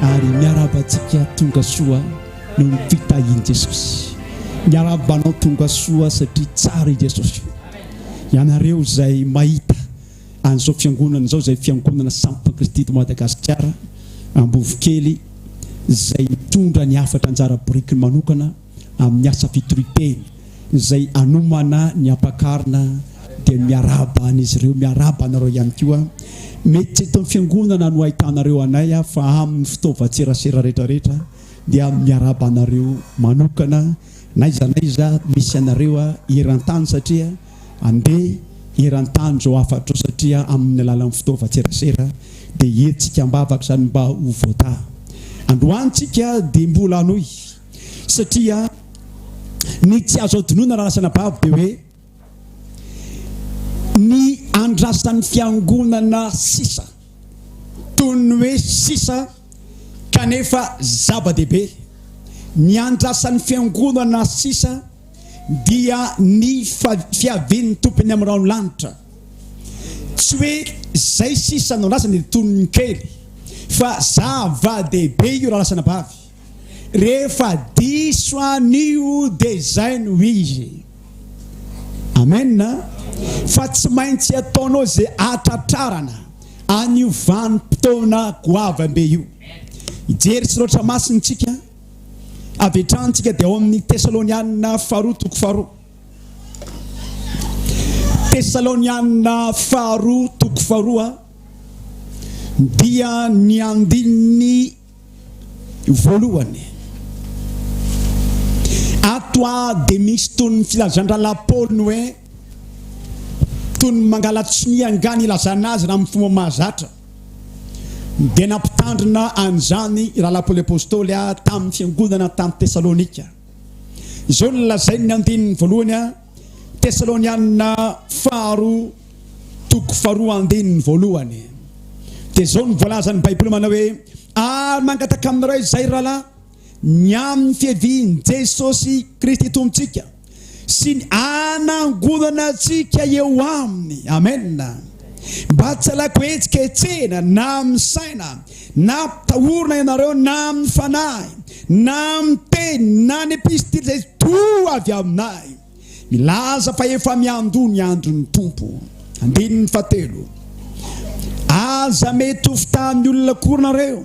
Ary miarahaba antsika tonga soa noho ny fitahian'i Jesosy. Miarahaba anao tonga soa satria tsara i Jesosy. Ianareo izay mahita an'izao fiangonana izao, izay fiangonana sampona Kristy eto Madagasikara, Ambovokely, izay mitondra ny hafatra anjara birikiny manokana, amin'ny asa fitoriteny izay anomana ny ampakarina dia miarahaba an'izy ireo miarahaba anareo ihany koa mety tsy eto amin'ny fiangonana no ahitanareo anay aho fa amin'ny fitaovan-tserasera rehetrarehetra dia miarahaba anareo manokana naiza naiza misy anareo eran-tany satria andeha eran-tany izao hafatrao satria amin'ny alalan'ny fitaovan-tserasera dia hetsika ambavaka izany mba ho voata androantsika dia mbola hanohy Satria ny tsy azo adinoina raha lasa anabavy dia hoe ny andrasan'ny fiangonana sisa, toy ny hoe sisa kanefa zava-dehibe. Ny andrasan'ny fiangonana sisa dia ny fiavian'ny Tompony amin'ny rano lanitra. Tsy hoe izay sisa no andrasany dia toy ny kely fa zava-dehibe io raha lasa anabavy. Rehefa diso anio dia izay no izy. Amen. Fa tsy maintsy ataonao izay atratrarana anio vanim-potoana goavambe io. Hijery sy loatra masina isika avy hatrany isika dia ao amin'ny Tesalonianina faharoa toko faharoa. Tesalonianina faharoa toko faharoa dia ny andininy Voalohany, ato dia misy toy ny filazan-drahalahy Paoly ny hoe toy ny mangala-tsonia angaha ny ilazana azy raha amin'ny fomba mahazatra. Dia nampitandrina an'izany i rahalahy Paoly Apostoly tamin'ny fiangonana tany Tesalonika. Izao no lazain'ny andininy voalohany. Tesalonianina faharoa toko faharoa andininy voalohany dia izao no voalazan'ny Baiboly manao hoe ary mangataka amin'ny Ray izay rahalahy ny amin'ny fiavian'i Jesosy Kristy Tompontsika sy ny hanangonana antsika eo aminy. Amena. Mba tsy alaiko hetsika hetsena na amin'ny saina Na atahorana ianareo na amin'ny fanahy, na amin'ny teny, na ny epistily izay toa avy aminay, milaza fa efa miandoha ny andron'ny Tompo. Andininy fahatelo. Aza mety ho fitahin'ny olona akory nareo.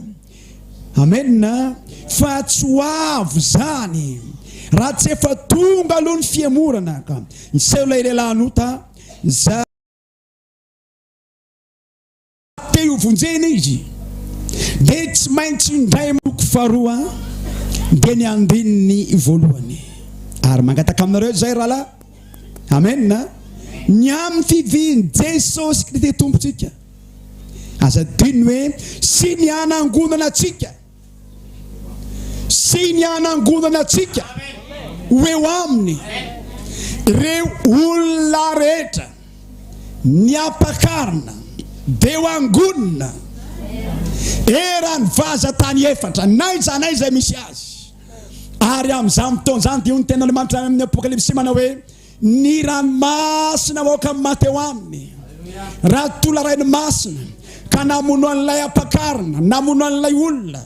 Amena. Fa tsy ho avy izany raha tsy efa tonga aloha ny fihemorana, ka niseho ilay lehilahin'ota, izay. Te ho vonjena izy dia tsy maintsy indray miloko faharoa dia ny andininy voalohany ary mangataka aminareo izay rahalahy amen ny amin'ny fivian'i Jesosy Kristy Tompontsika aza adino hoe sy ny hanangonana antsika sy ny hanangonana antsika ho eo aminy reo olona rehetra ny ampakarina de ho angonina eran'ny vaza tany efatra naiza naiza misy azy ary amin'izany fotoana izany dia hoy ny tenin'Andriamanitra any amin'ny apokalypsy manao hoe Ny ranomasina maoka ny maty eo aminy. Raha tola rainy masina ka namono an'ilay ampakarina, namono an'ilay olona,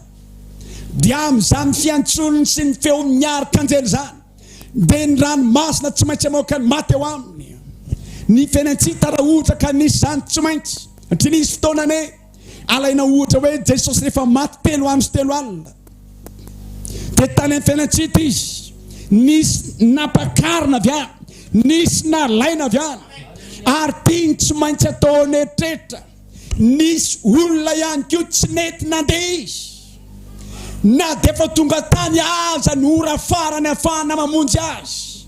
dia amin'izany fiantsoniny sy ny feony miary kanjely izany, dia ny ranomasina tsy maintsy maoka ny maty eo aminy. Ny fenantsita raha ohatra ka nisy izany tsy maintsy, satria nisy fotoana ne. Alaina ohatra hoe Jesosy rehefa maty telo andro sy telo alina dia tany amin'ny fiainantsika izy. Nisy nampakarina avy any, nisy nalaina avy any, ary tiany tsy maintsy atao ao neritretra. Nisy olona ihany koa tsy nety nandeha izy. Na dia efa tonga tany aza ny ora farany afahana mamonjy azy,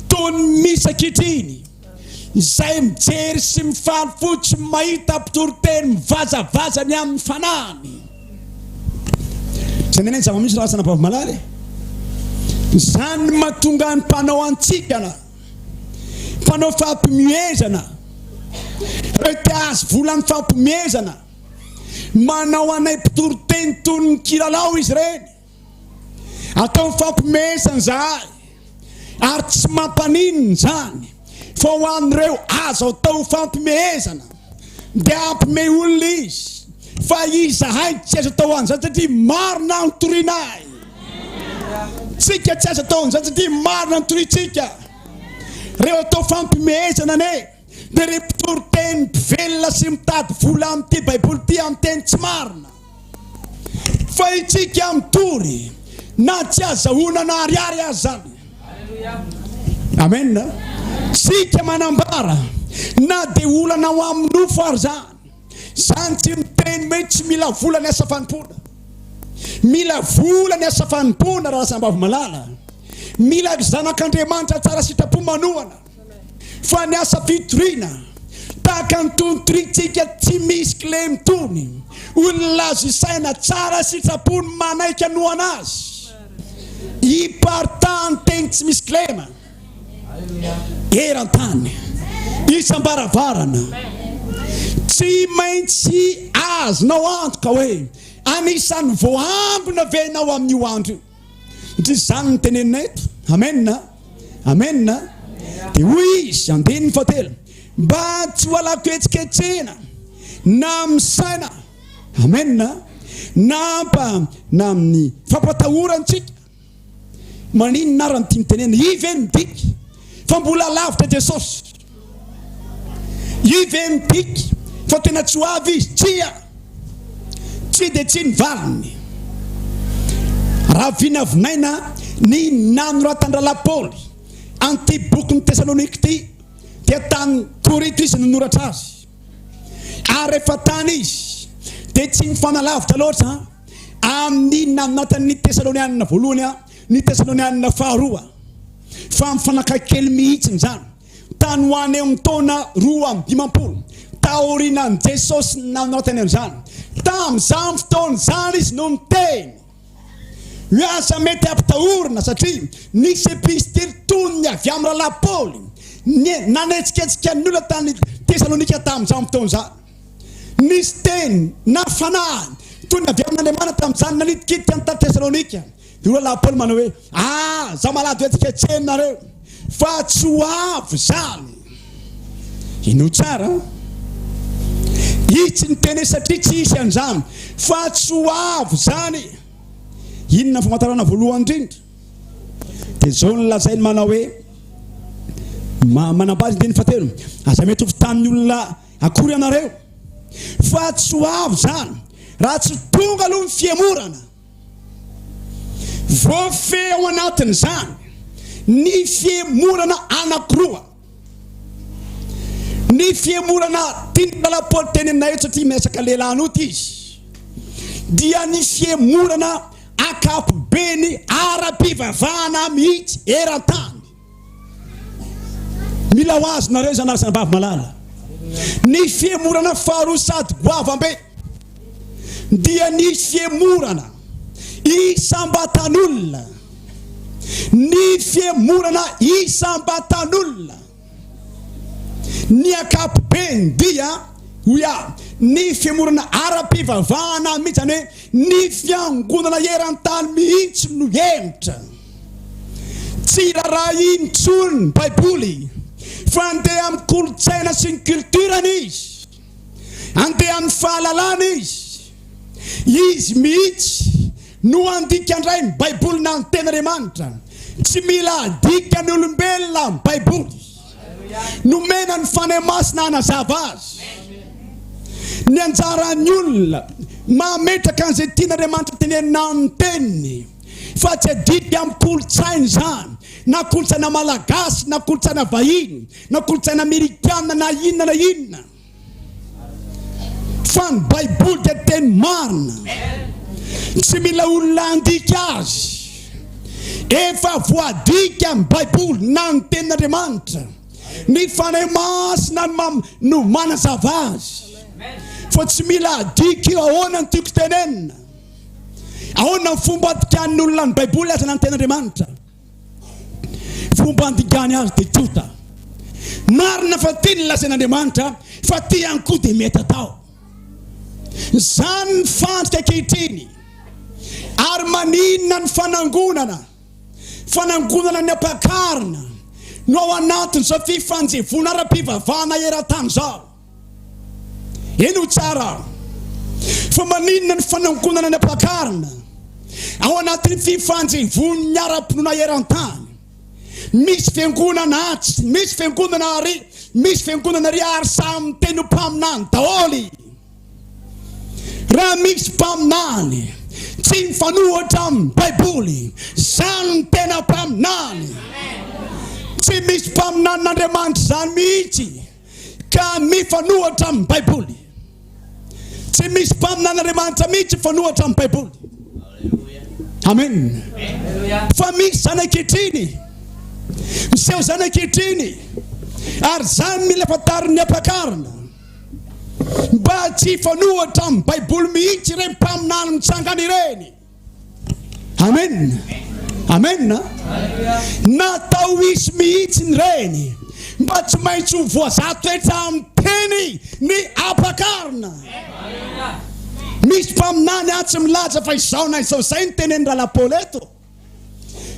toy ny misa ankehitriny. Izay mijery sy mifaly fo tsy mahita mpitory teny mivazavaza ny amin'ny fanahiny. Tsy aminay ny zava-misy raha tsy anabavimalaly e. Izany no mahatonga ny mpanao antsikana, mpanao fampimihezana, ireo te ahazo vola amin'ny fampimihezana, manao anay mpitory teny toy ny kilalao izy ireny. Ataony fampihomehezana izahay ary tsy mampaninona izany fa ho an'ireo azo atao ho fampihomehezana dia hampiomehy olona izy fa izahay tsy azo atao ho an'izany satria marina ny torianay. Tsika tsy azo atao an'izany satria marina ny toriantsika. Reo atao fampihomehezana anie. Dia ireo mpitoriteny mpivelona sy mitady vola amin'ity Baiboly ity amin'ny teny tsy marina. Fa isika mitory na tsy azahoana na ariary aza izany. Amen. Isika manambara na dia olana ho amin'ny nofo ary izany. Izany tsy miteny hoe tsy mila vola ny asa fanompoana. Mila vola ny asa fanompoana raha sambavy malala. Mila zanak'Andriamanitra tsara sitrapo manohana. Fa ny asa fitoriana tahaka ny tonontorintsika tsy misy kle mitony, hoy ny lazy saina tsara sitrapony manaiky hanohana azy, hiparitahan'ny teny tsy misy kilema eran-tany isam-baravarana. Tsy maintsy azonao antoka hoe anisan'ny voahangona ve ianao amin'io andro io? Satria izany no tenenina eto. Amen! Amen! Dia hoy izy, andininy fahatelo, mba tsy ho alako hetsiketsehina na amin'ny saina. Amen! Na mpa na amin'ny fampatahorantsika. Maninona ary no tiany tenenina? Iy ve no midika fa mbola lavitra Jesosy? Io ve midika fa tena tsy ho avy izy? Tsia! Tsy dia tsy ny valiny. Raha vinavinaina ny nanoratan-drahalahy Paoly an'ity bokin'i Tesalonika ity, dia tany Korinto izy no noratra azy. Ary rehefa tany izy, dia tsy nifanalavitra loatra amin'ny nanatan'ny Tesalonianina voalohany. Ny Tesalonianina Faharoa. Fa mifanakaiky kely mihitsy izany, tany ho any amin'ny taona roa amby dimampolo taorianan'i Jesosy nanoratany an'izany. Tamin'izany fotoana izany izy no niteny hoe aza mety hampitahorina, satria nisy epistily toniny avy amin'ny rahalahy Paoly nanetsiketsika ny olona tany Tesalonika tamin'izany fotoana izany. Nisy teny na fanahiny toy ny avy amin'Andriamanitra tamin'izany nanitikitika ny tany Tesalonika. Ireo rahalahy Paoly manao hoe, Aza malahelo hetsiketsehinareo, fa tsy ho avy izany. Inoa tsara, itsy ny teny hoe satria tsy hisy an'izany, fa tsy ho avy izany. Inona ny famantarana voalohany indrindra? Dia izao no lazainy manao hoe, manambady ny teny fahatelo, aza miatoky tamin'ny olona Akory anareo fa tsy ho avy zany raha tsy tonga aloha ny fihemorana. Voafehy ao anatin'izany ny fihemorana anakiroa. Ny fihemorana tian'ny mpanapoly teny aminay eto satria miresaka lehilahy an'ota izy dia ny fihemorana ankapobeny ara-pivavahana mihitsy eran-tany. Mila ho azy nareo izany ary zanabavy malala. Ny fihemorana faharoa sady goavam-be dia ny fihemorana isam-batan'olona. Ny fihemorana isam-batan'olona. Ny ankapobeny dia oya ny fihemorana ara-pivavahana mihitsy izany hoe ny fiangonana eran-tany mihitsy no hemotra. Tsy raharaha intsony ny Baiboly, fa andeha amin'ny kolontsaina sy ny culture-ny izy. Andeha amin'ny fahalalana izy. Izy mihitsy no handika indray ny Baiboly na ny Tenin'Andriamanitra. Tsy mila adika ny olombelona ny Baiboly. Nomena ny Fanahy Masina hanazava azy. Ny anjaran'ny olona mametraka an'izay tian'Andriamanitra tenenina amin'ny Teniny. fa tsy adika amin'ny kolontsaina izany, na kolontsaina malagasy, na kolontsaina vahiny, na kolontsaina amerikana, na inona na inona, fa ny Baiboly dia teny marina, tsy mila olona handika azy, efa voadika amin'ny Baiboly na ny tenin'Andriamanitra, ny Fanahy Masina no, no manazava azy, fa tsy mila adika io ahoana no tiako tenenina. Ahoana ny fomba andikan'ny olona ny Baiboly aza na ny Tenin'Andriamanitra? Fomba andikany azy dia tonta. Marina fa tia ny lazain'Andriamanitra fa tia ihany koa dia mety atao. Izany ny fandrika ankehitriny. Ary maninona ny fanangonana, fanangonana ny ampakarina no ao anatin'izao fifanjevoana ara-pivavahana eran-tany izao? Eny ho tsara fa maninona ny fanangonana ny ampakarina ao anatin'ny fifanjevoan'ny ara-pinoana eran-tany? Misy fiangonana atsy, misy fiangonana ary, misy fiangonana ary ary samy miteny ho mpaminany daholo. Raha misy mpaminany tsy mifanohitra amin'ny Baiboly, izany ny tena mpaminany. Tsy misy mpaminanin'Andriamanitra izany mihitsy. Ka mifanohatra amin'ny Baiboly. Tsy misy mpaminan'Andriamanitra mihitsy mifanohatra amin'ny Baiboly. Amen. Fa misy zanak'itriny, miseho zanak'itriny, ary izany mila fantarin'ny ampakarina. Mba tsy hifanohatra amin'ny Baiboly mihitsy ireny mpaminany mitsangana ireny. Amen! Amen! Natao hisy mihitsy ny reny mba tsy maintsy ho voazatoetra amin'ny teny ny ampakarina. Misy mpaminany atsy milaza fa izao na izao izay ny tenenin'i Ralapaolo eto.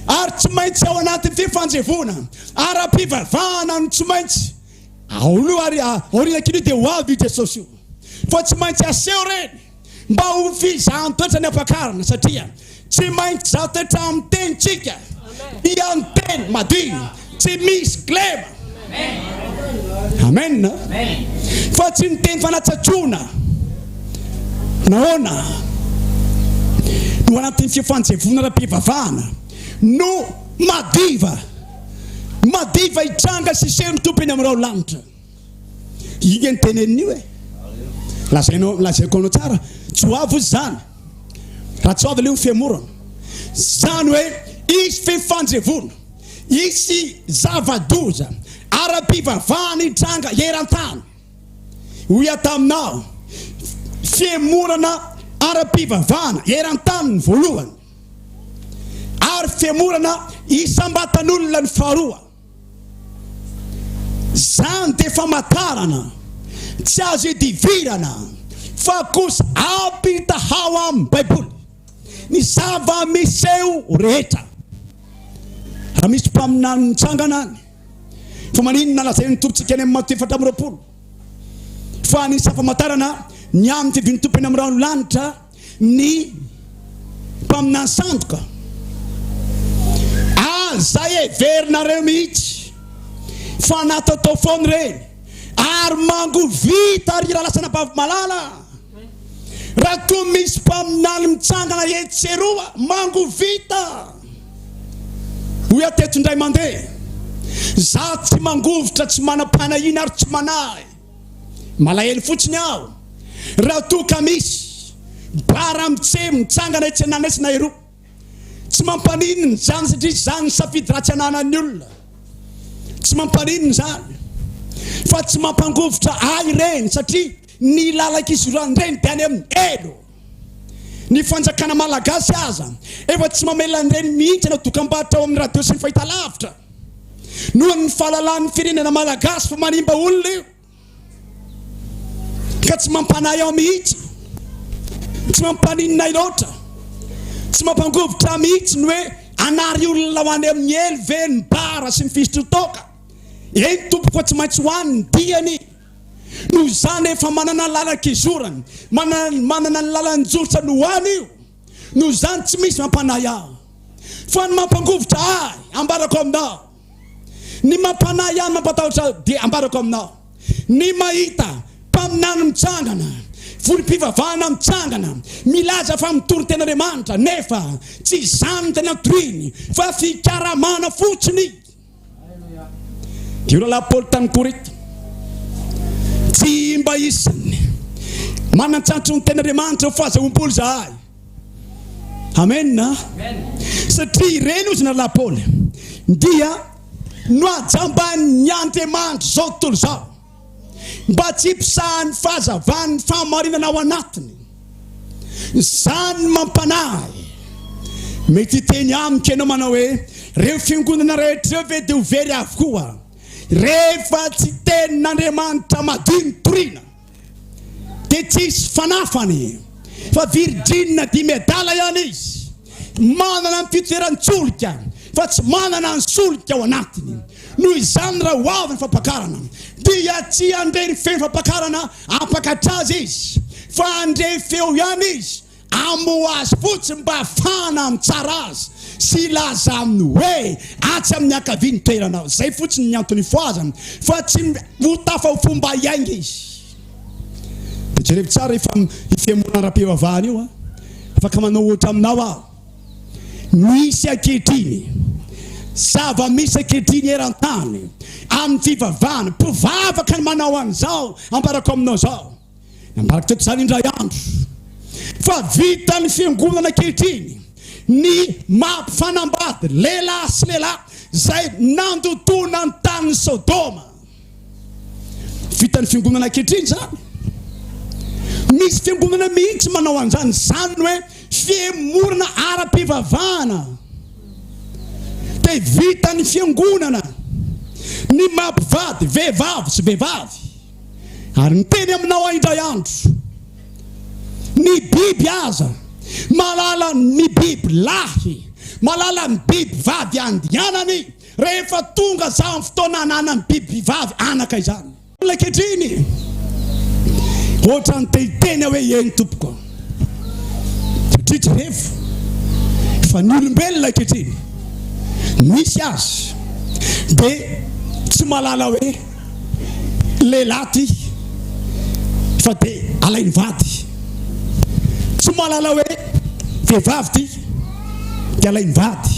Ary tsy maintsy ao anatin'ity fanjevoana ara-pivavahana no tsy maintsy aolo ary aoriana kely dia ho avy i Jesosy io. Fa tsy maintsy aseho reny. mba ho fizahan-toetra ny ampakarina satria tsy maintsy zaha toetra amin'ny tenintsika dia ny teny madio tsy misy kilema amen fa tsy ny teny fanatsatsona nahoana no anatin'ny fifanjevona ara-pivavahana no madiva madiva hitranga sy seho ny tompony amin'ireo lanitra Inga ny tenenin'io e. Lazainao, lazaiko anao tsara, tsy ho avy izany. Raha tsy ho avy ilay ho femorana. Izany hoe hisy fifanjevoana, hisy zava-doza ara-pivavahana hitranga eran-tany. Hoy aho taminao, femorana ara-pivavahana eran-tany ny voalohany, ary femorana isam-batan'olona ny faharoa. Zany de famatarana tsy azo idivirana fa kosa ampitahao amin'ny baiboly ny zava miseho rehetra. Raha misy mpaminany mitsangana any fa maninona lazain'ny tompitsika any amin'ny Mato efatra amby roapolo fa anisany famatarana ny amin'ny fidin'ny tompo eny amin'ny rano lanitra Ny mpaminany sandoka. Aza heverinareo mihitsy fa nataotao foana ireny ary mangovita ry Ralasana Bavimalala raha koa misy mpaminany mitsangana etsy sy eroa mangovita hoy aho teto indray mandeha. Za tsy mangovitra tsy manam-panahiana ary tsy manahy. Malahelo fotsiny aho raha toa ka misy bar amin'ny tse mitsangana etsy an'Anesy na eroa. Tsy mampaninona izany satria izany ny safidy ratsy ananan'ny olona. Tsy mampaninona izany fa tsy mampangovitra ahy ireny satria ny lalan-kisoran'ireny dia any amin'ny elo. Ny fanjakana malagasy aza efa tsy mamela an'ireny mihitsy hanao dokam-barotra ao amin'ny radio sy ny fahitalavitra noho ny fahalalahan'ny firenena malagasy fa manimba olona io ka tsy mampanahy ahy mihitsy tsy mampaninona ahy loatra tsy mampangovitra ahy mihitsy ny hoe anary olona ho any amin'ny elo ve ny bara sy ny fisotrotoaka eny tompoko tsy maintsy ho any ny diany Noho izany, efa manana ny lalan-kizorany, manana ny lalan-joritra no any io. Noho izany, tsy misy mampanahy ahy, fa ny mampangovitra ahy ambarako aminao. Ny mampanahy ahy, ny mampatahotra ahy dia ambarako aminao. Ny mahita mpaminany mitsangana, volim-pivavahana mitsangana, milaza fa mitory tena Andriamanitra, nefa tsy izany ny tena tohiny, fa fikaramana fotsiny. Io rahalahy Paoly tany Korinta, tsy mba isan'ny manan-tsatry ny tenin'Andriamanitra ho fahazahoam-polo izahay. Amena. Satria ireny hozy ny rahalahy Paoly dia nohajamban'ny Andriamanitra izao tontolo izao. mba tsy hiposahan'ny fahazavan'ny fahamarinana ao anatiny. Izany no mampanahy ahy. Mety hiteny amiko ianao manao hoe, Ireo fiangonana rehetra ireo ve dia ho very avokoa, rehefa tsy Tenin'Andriamanitra madio no toriana? Dia tsy hisy fanafany, fa virijinina dimy adala ihany izy, manana ny fitoeran-tsolika, fa tsy manana ny solika ao anatiny. Noho izany raha ho avy ny fampakarana dia tsy handre ny feon'ny fampakarana hampakatra azy izy fa handre feo ihany izy hamoha azy fotsiny mba hahafahana mitsara azy sy hilaza aminy hoe atsy amin'ny ankavia ny toeranao. Izay fotsiny ny antony ifohazany fa tsy ho tafa ho fo mba hiainga izy. Dia jerevy tsara io fihemorana ara-pivavahana io a. Afaka manao ohatra aminao aho. Misy ankehitriny zava-misy ankehitriny eran-tany amin'ny fivavahana. Mpivavaka no manao an'izao ambarako aminao izao. Nambarako teto izany indray andro fa vitan'ny fiangonana ankehitriny ny mampifanambady lehilahy sy lehilahy izay nandotoana ny tanin'i Sodoma. Vitan'ny fiangonana ankehitriny izany. Misy fiangonana mihitsy manao an'izany. Izany ny hoe fihemorana ara-pivavahana. Dia vitan'ny fiangonana ny maha mpivady vehivavy sy vehivavy. Ary miteny aminao aho indray andro, ny biby aza mahalala ny biby lahy, mahalala ny biby vady andianany. Rehefa tonga izany fotoana ananan'ny bibivavy anaka izany. Olona ankehitriny, ohatran'ny te hiteny aho hoe, Eny, Tompoko. Satria jerefo fa ny olombelona ankehitriny, misy aza dia tsy mahalala hoe. lehilahy ty fa de alainy vady tsy malala hoe vehivavy ty de alainy vady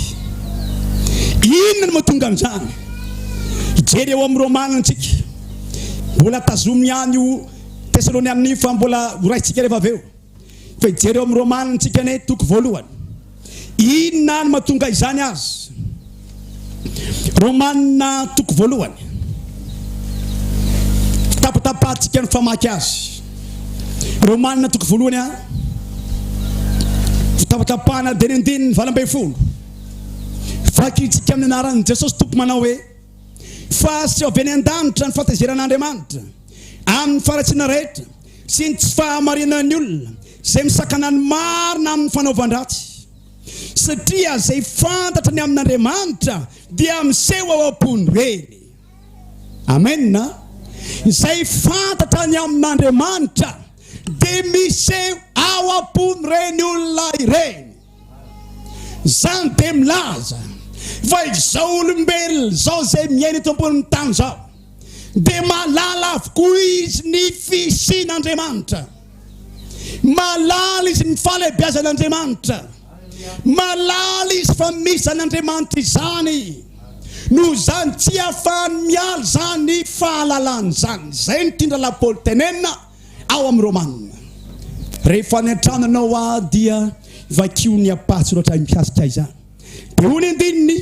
inona no matonga an'izany hijery eo amin'ny romana antsika mbola tazomy ihany io tesalonianina io fa mbola ho raisitsika rehefa avy eo Fa hijery ao amin'ny Romana antsika anie, toko voalohany. Inona no mahatonga izany azy? Romana toko voalohany. Tapatapahantsika ny famaky azy. Romana toko voalohany a. Tapatapahana dia ny andininy valo ambin'ny folo. Vakintsika amin'ny anaran'i Jesosy Tompo manao hoe fa aseho avy any an-danitra ny fahatezeran'Andriamanitra amin'ny faharatsiana rehetra sy ny tsy fahamarinan'ny olona izay misakana ny marina amin'ny fanaovan-dratsy, satria izay fantatra ny amin'Andriamanitra dia miseho ao am-pony reny. Amena. Izay fantatra ny amin'Andriamanitra dia miseho ao am-pony ireny olona ireny. Izany dia milaza fa izao olombelona izao izay miaina eto ambonin'ny tany izao dia mahalala avokoa izy ny fisian'Andriamanitra. Mahalala izy ny fahalehibiazan'Andriamanitra. Mahalala izy fa misy izany Andriamanitra izany. Noho izany tsy afahany miala izany fahalalana izany. Izay no tian'i Rahalahy Paoly tenenina. Ao amin'ny Romana, Rehefa any an-tranonao aho dia vakio ny ampahatsoratra mikasika izany. Dia hoy ny andininy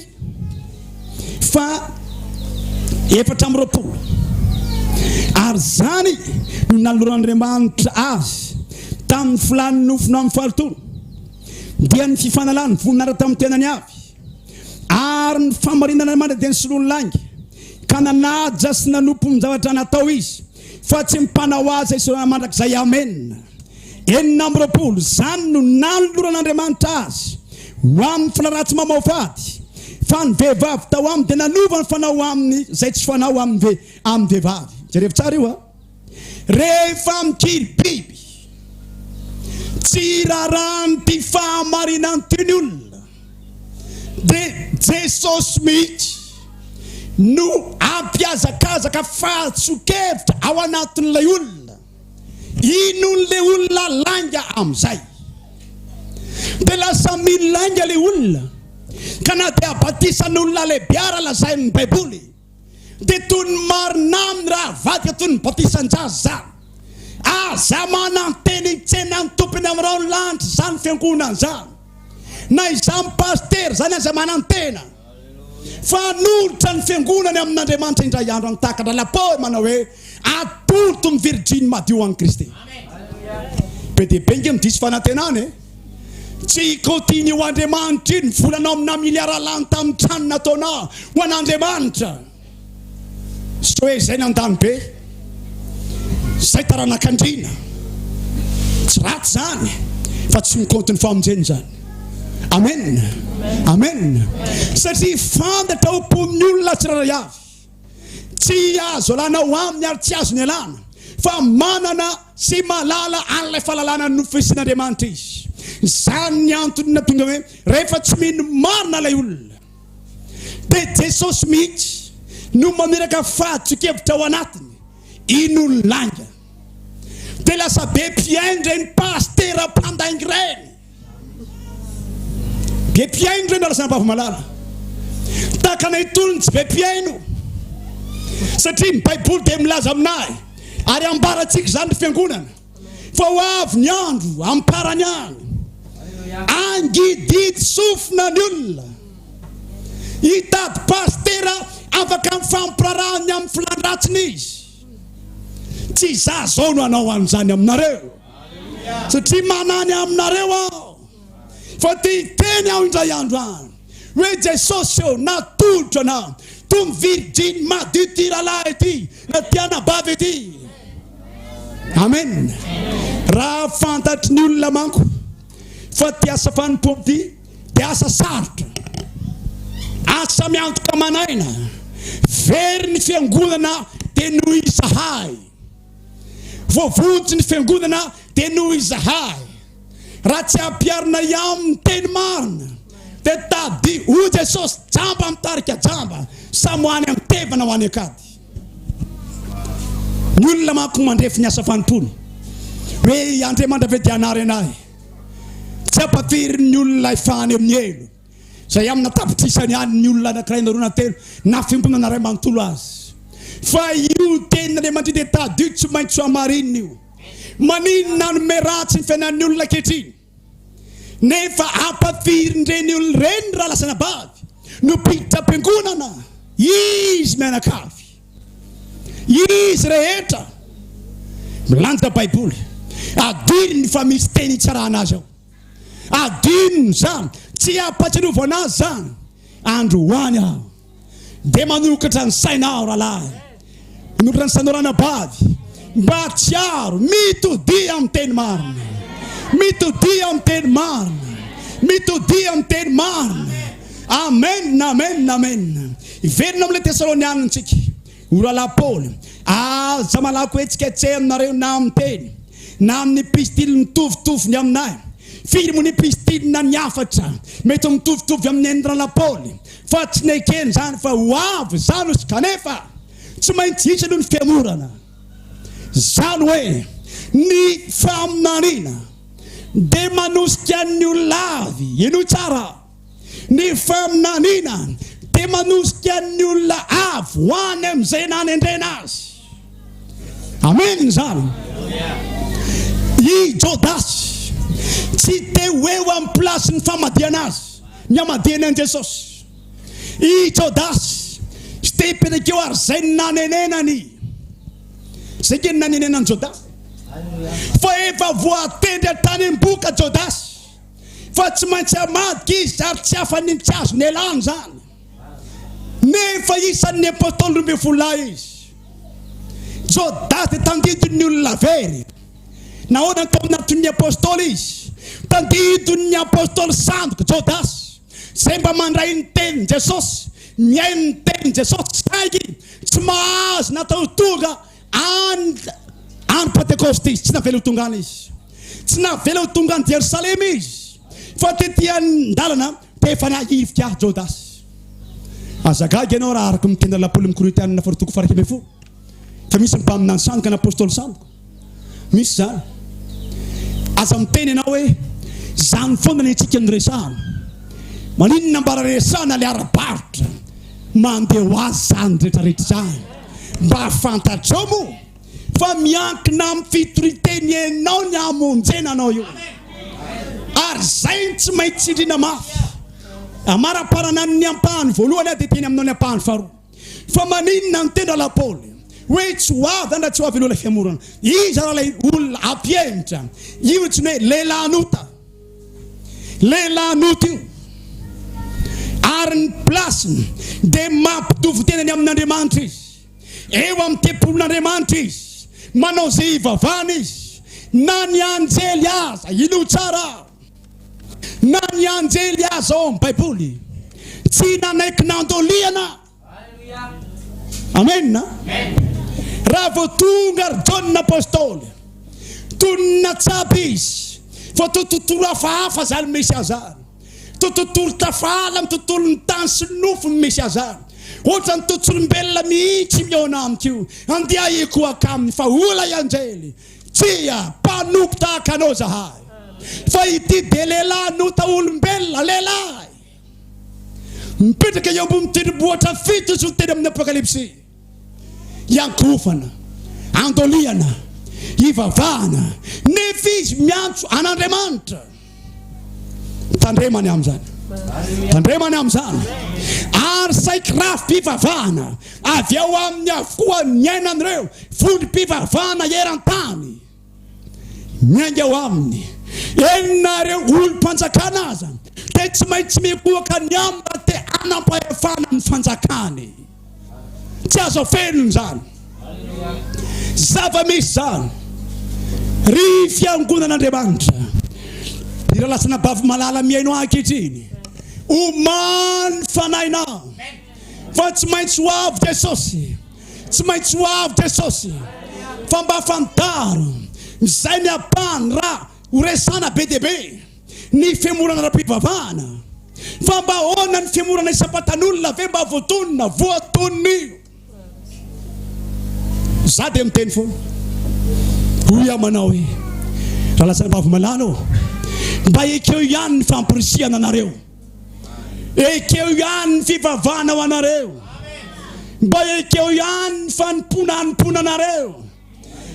faha-efatra amby roapolo, Ary izany no nanoloran'Andriamanitra azy tamin'ny filàn'ny nofony amin'ny fahalotoana, dia ny fifanalàny voninahitra tamin'ny tenany avy, ary ny famarinana mandra-dia nisoloany lainga, ka nanaja sy nanompo ny zavatra natao izy Fa tsy mpanao azy esorana mandrakizay Amen Enina amby roapolo Izany no nanoloran'Andriamanitra azy ho amin'ny filarattsy mamaofady Fa ny vehivavy tao aminy dia nanova ny fanao aminy izay tsy fanao amin'ny amin'ny vehivavy Jerevo tsara io a Rehefa mikiry biby Tsy irarahan'ity fahamarinan'ity ny olona Dia Jesosy mihitsy no hampihazakazaka fahatsoan-kevitra ao anatin'ilay olona. Inon'ilay olona lainga amin'izay? Dia lasa mino lainga ilay olona, ka na dia batisan'olona lehibe ara lazain'ny Baiboly, Dia toy ny marina aminy raha avadika toy ny batisan-jaza. Aza manantena hitsena ny Tompony amin'irao ny lanitra izany fiangonana izany. Na izany pasitera izany aza manantena fa hanolotra ny fiangonany amin'Andriamanitra indray andro any tahaka lalam-pohy manao hoe atoloto ny virjiny madio an'i Kristy. Be dia be ange ny diso fanantenana e! Tsy hikaotian'ny ho Andriamanitra iny volanao amina miliara lany tamin'ny trano nataonao ho an'Andriamanitra. Soe izay nandany be, izay taranak'andriana. Tsy ratsy izany fa tsy mikaonty ny famonjena izany. Amen. Amen. Satria fantatra ao am-pon'ny olona tsirairay avy. Tsy azo alana ao aminy ary tsy azo nialana, fa manana sy mahalala an'ilay fahalalana nofesin'Andriamanitra izy. Izany ny antony nahatonga hoe rehefa tsy mino marina ilay olona, dia Jesosy mihitsy no mamiraka fahadson-kevitra ao anatiny, inon'ny lainga? Dia lasa be mpihaino ireny pasitera mpandainga ireny. Be mpihaino ireny Razambavy Malala. Tahaka anay itony ny tsy be mpihaino. Satria ny Baiboly dia milaza aminay ary ambarantsika izany ny fiangonana fa ho avy ny andro amparany any. Angididy sofina ny olona. Hitady pastera afaka mifampirarahan'ny amin'ny filàn-dratsiny izy. Tsy izaho izao no hanao an'izany aminareo. Satria manany aminareo aho fa te hiteny aho indray andro any hoe Jesosy ô, natolotro anao tony virjiny madio ty rahalahy ity na ty anabavy ity. Amen. Raha fantatry ny olona manko fa ty asa fanompoako ty dia asa sarotra, asa miantoka aman'aina, very ny fiangonana dia noho izahay. Voavonjy ny fiangonana dia noho izahay. Raha tsy ampiharina iamn ny teny marina dia tadi o Jesosy jamba mitarika jamba samy ho any antevana ho any ankady. Ny olona manko mandrefy ny asa fanompoana hoe i Andriamandravedyanarena ahy. Tsy ampafirin'ny olona ilay fahany amin'ny helo. Izay amina tapitrisany ihany ny olona anankiray na roa na telo na fiangonana iray manontolo azy. Fa io tenin'Andriamanitry dia tadidio tsy maintsy hamarinina io. Maninona hanome ratsy ny fiainan'ny olona ankehitriny nefa ampafirin'ireny olona ireny raha lasa anabavy no mpiditra am-piangonana? Izy mianakavy, izy rehetra milanja Baiboly, adiry ny fa misy teny hitsarana azy ao. Adino izany, tsy ampatsiarovana azy izany. Andro ho any aho dia manokatra ny saina aho rahalahy, manokatra ny sainao ranabavy, mba tsiaro mitodia amin'ny teny marina, mitodia amin'ny teny marina, mitodia amin'ny teny marina. Amen, amen, amen. Hiverina amin'ilay Tesalonianina isika. O Rahalahy Paoly, aza malaky hohetsiketseha aminareo na amin'ny teny, na amin'ny pistily mitovitovy ny aminay. Firy moa ny pistily na ny hafatra mety ho mitovitovy amin'ny an'ny Rahalahy Paoly, fa tsy nekeny izany fa ho avy izany ozy, kanefa tsy maintsy hisy aloha ny fihemorana. Izany hoe ny faminaniana dia manosika ny olona avy, henoy tsara. Ny faminaniana dia manosika ny olona avy ho any amin'izay nanendrena azy. Amen izany. I Jodasy tsy te ho eo amin'ny plasin'ny famadihana azy, ny hamadihany an'i Jesosy. I Jodasy tsy te hipetraka eo ary izay nanenenany. Izay keny nanenenan'i Jodasy. Fa efa voatendry hatrany am-boka Jodasy. fa tsy maintsy hamadika izy ary tsy hafanentsika azy ny alahany izany. Nefa isan'ny apostoly roa ambin'ny folo lahy izy. Jodasy dia tandidon'ny olona very. Nahoana no tao anatin'ny apostoly izy? Tandidon'ny apostoly sandoka Jodasy izay mba mandray ny tenin'i Jesosy, mihaino ny tenin'i Jesosy saingy tsy mahazo natao tonga And. Andro Pantekôsta izy, tsy navela ho tonga any izy. Tsy navela ho tonga any Jerosalema izy, fa tety an-dalana dia efa nahivika ahy Jodasy. Aza gaga ianao raha araka ny tenin'ny lapolin'ny Korintianina faharoa toko faha iraika ambin'ny folo, fa misy mpaminany sandoka na apôstôly sandoka. Misy izany. Aza miteny ianao hoe, Izany foana ny antsika no resahana. Maninona mba raha resahana ilay ara-barotra? Mandeha ho azy izany rehetrarehetra izany. Mba fantatrao moa fa miankina amin'ny fitorian-teny enao ny hamonjena anao io. Ary izay no tsy maintsy tsindriana mafy. Amara-parana ny ampahany voalohany aho dia teny aminao ny ampahany faharoa. Fa maninona niteny rahalahy Paoly hoe tsy ho avy zany raha tsy ho avy aloha ilay fiamorana? Iza raha ilay olona hampihemotra? Io no antsoina hoe lehilahin'ota. Lehilahy nota io, ary ny plasiny dia mampitovy tenany amin'Andriamanitra izy. Eo amin'ny tempolin'Andriamanitra izy, manao izay hivavahana izy, na ny anjely aza. Inoy tsara aho, na ny anjely aza ao amin'ny Baiboly tsy nanaiky nandoliana. Amen a! Raha vao tonga ry Jaona Apostoly, tonina tsapa izy, fa to tontolo hafahafa zany misy azany. To tontolo tafahala amin'ny tontolon'ny tany sy ny nofo no misy azany. Ohatran'ny to tsolombelona mihitsy mihaona amiko io, andehahiko akaminy fa ola i anjely, tsia, mpanompo tahaka anao zahay. Fa ity dia lehilahy nota olombelona, lehilahy. Mipetraka eo ambonin'ny tendrombohitra fito izy no teny amin'ny Apokalypsy. Iankohofana, andolihana, ivavahana, nefa izy miantso an'Andriamanitra. Tandremany amin'izany. Tandremany amin'izany. Ary saiky rafi-pivavahana avy ao aminy avokoa ny ainan'ireo vondrom-pivavahana eran-tany. Miainga ao aminy. Eny na ireo olom-panjakana aza dia tsy maintsy mikohaka ny aminy raha te hanam-pahefana ny fanjakany. Tsy azo afenina izany. Zava-misy izany. Ry fiangonan'Andriamanitra, Biralatsana Bavimalala mihaino ahy ankehitriny. Omaly ny fanahinao fa tsy maintsy ho avy Jesosy. Tsy maintsy ho avy Jesosy fa mba fantaro izay ny ampahany raha horesahana be dia be ny femorana ara-pivavahana. Fa mba ahoana ny femorana isam-patan'olona ve mba voatonona, voatonon'io? Za dia miteny foana. Hoy aho manao hoe, Ralazanabavy malala ô, mba ekeo ihany ny famporisihana anareo. Ekeo ihany ny fivavahana ho anareo. Mba ekeo ihany ny fanompoana hanompoana anareo.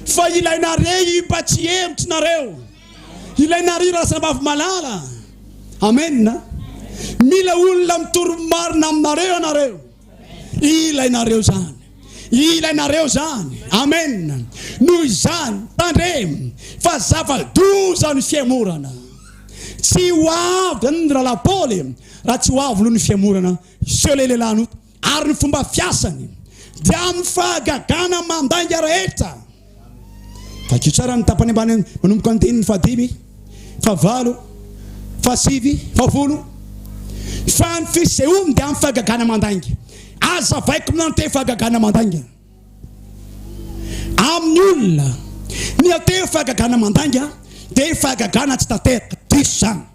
Fa ilay nare-y mba tsy hevitry nareo. Ilay nare-y Razambavy Malala. Amen. Mila olona mitory marina aminareo ianareo. Ilainareo izany. Ilainareo izany. Amen. Noho izany, tandremo fa zava-doza ny fiemorana. Tsy ho avy zany ny rahalahy Paoly raha tsy ho avy aloha ny fiemorana. Hiseho ilay lehilahy nota ary ny fomba fiasany dia amin'ny fahagagana mandainga rehetra. Vakio tsara ny tapany ambany manomboka ny andininy fahadimy, fahavalo, fahasivy, fahavolo. Fa ny fisehoany dia amin'ny fahagagana mandainga. Aza vaiko miantehofo fahagagana mandainga. Amin'ny olona miantehofo fahagagana mandainga dia fahagagana tsy tanteraka. Diso izany.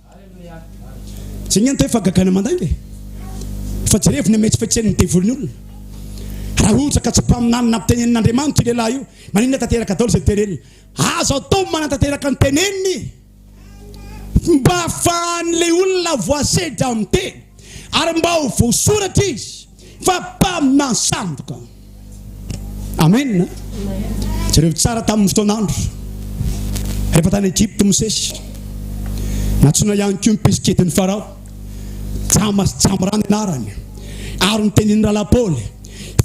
Zay niantey fa gagana mandainga e. Fa jerevo ny ametsifetsen'ny devoly olona. Raha ohatra ka tsy mpaminany na mpitenenina Andriamanitra io lehilahy io, maninona tanteraka daolo zay teneniny? Azo atao ny manatanteraka ny teneniny mba afahan'ilay olona voasedra miteny ary mba ho voasoratra izy. Fa mpaminany sandoka. Amen. Jereo tsara tamin'ny fotoan'andro. Rehefa tany Egypte Mosesy. Natsoina ihany koa mpisikety ny Farao. Jama sy Jamrany anarany. Ary ny tenin'ny Rala Paoly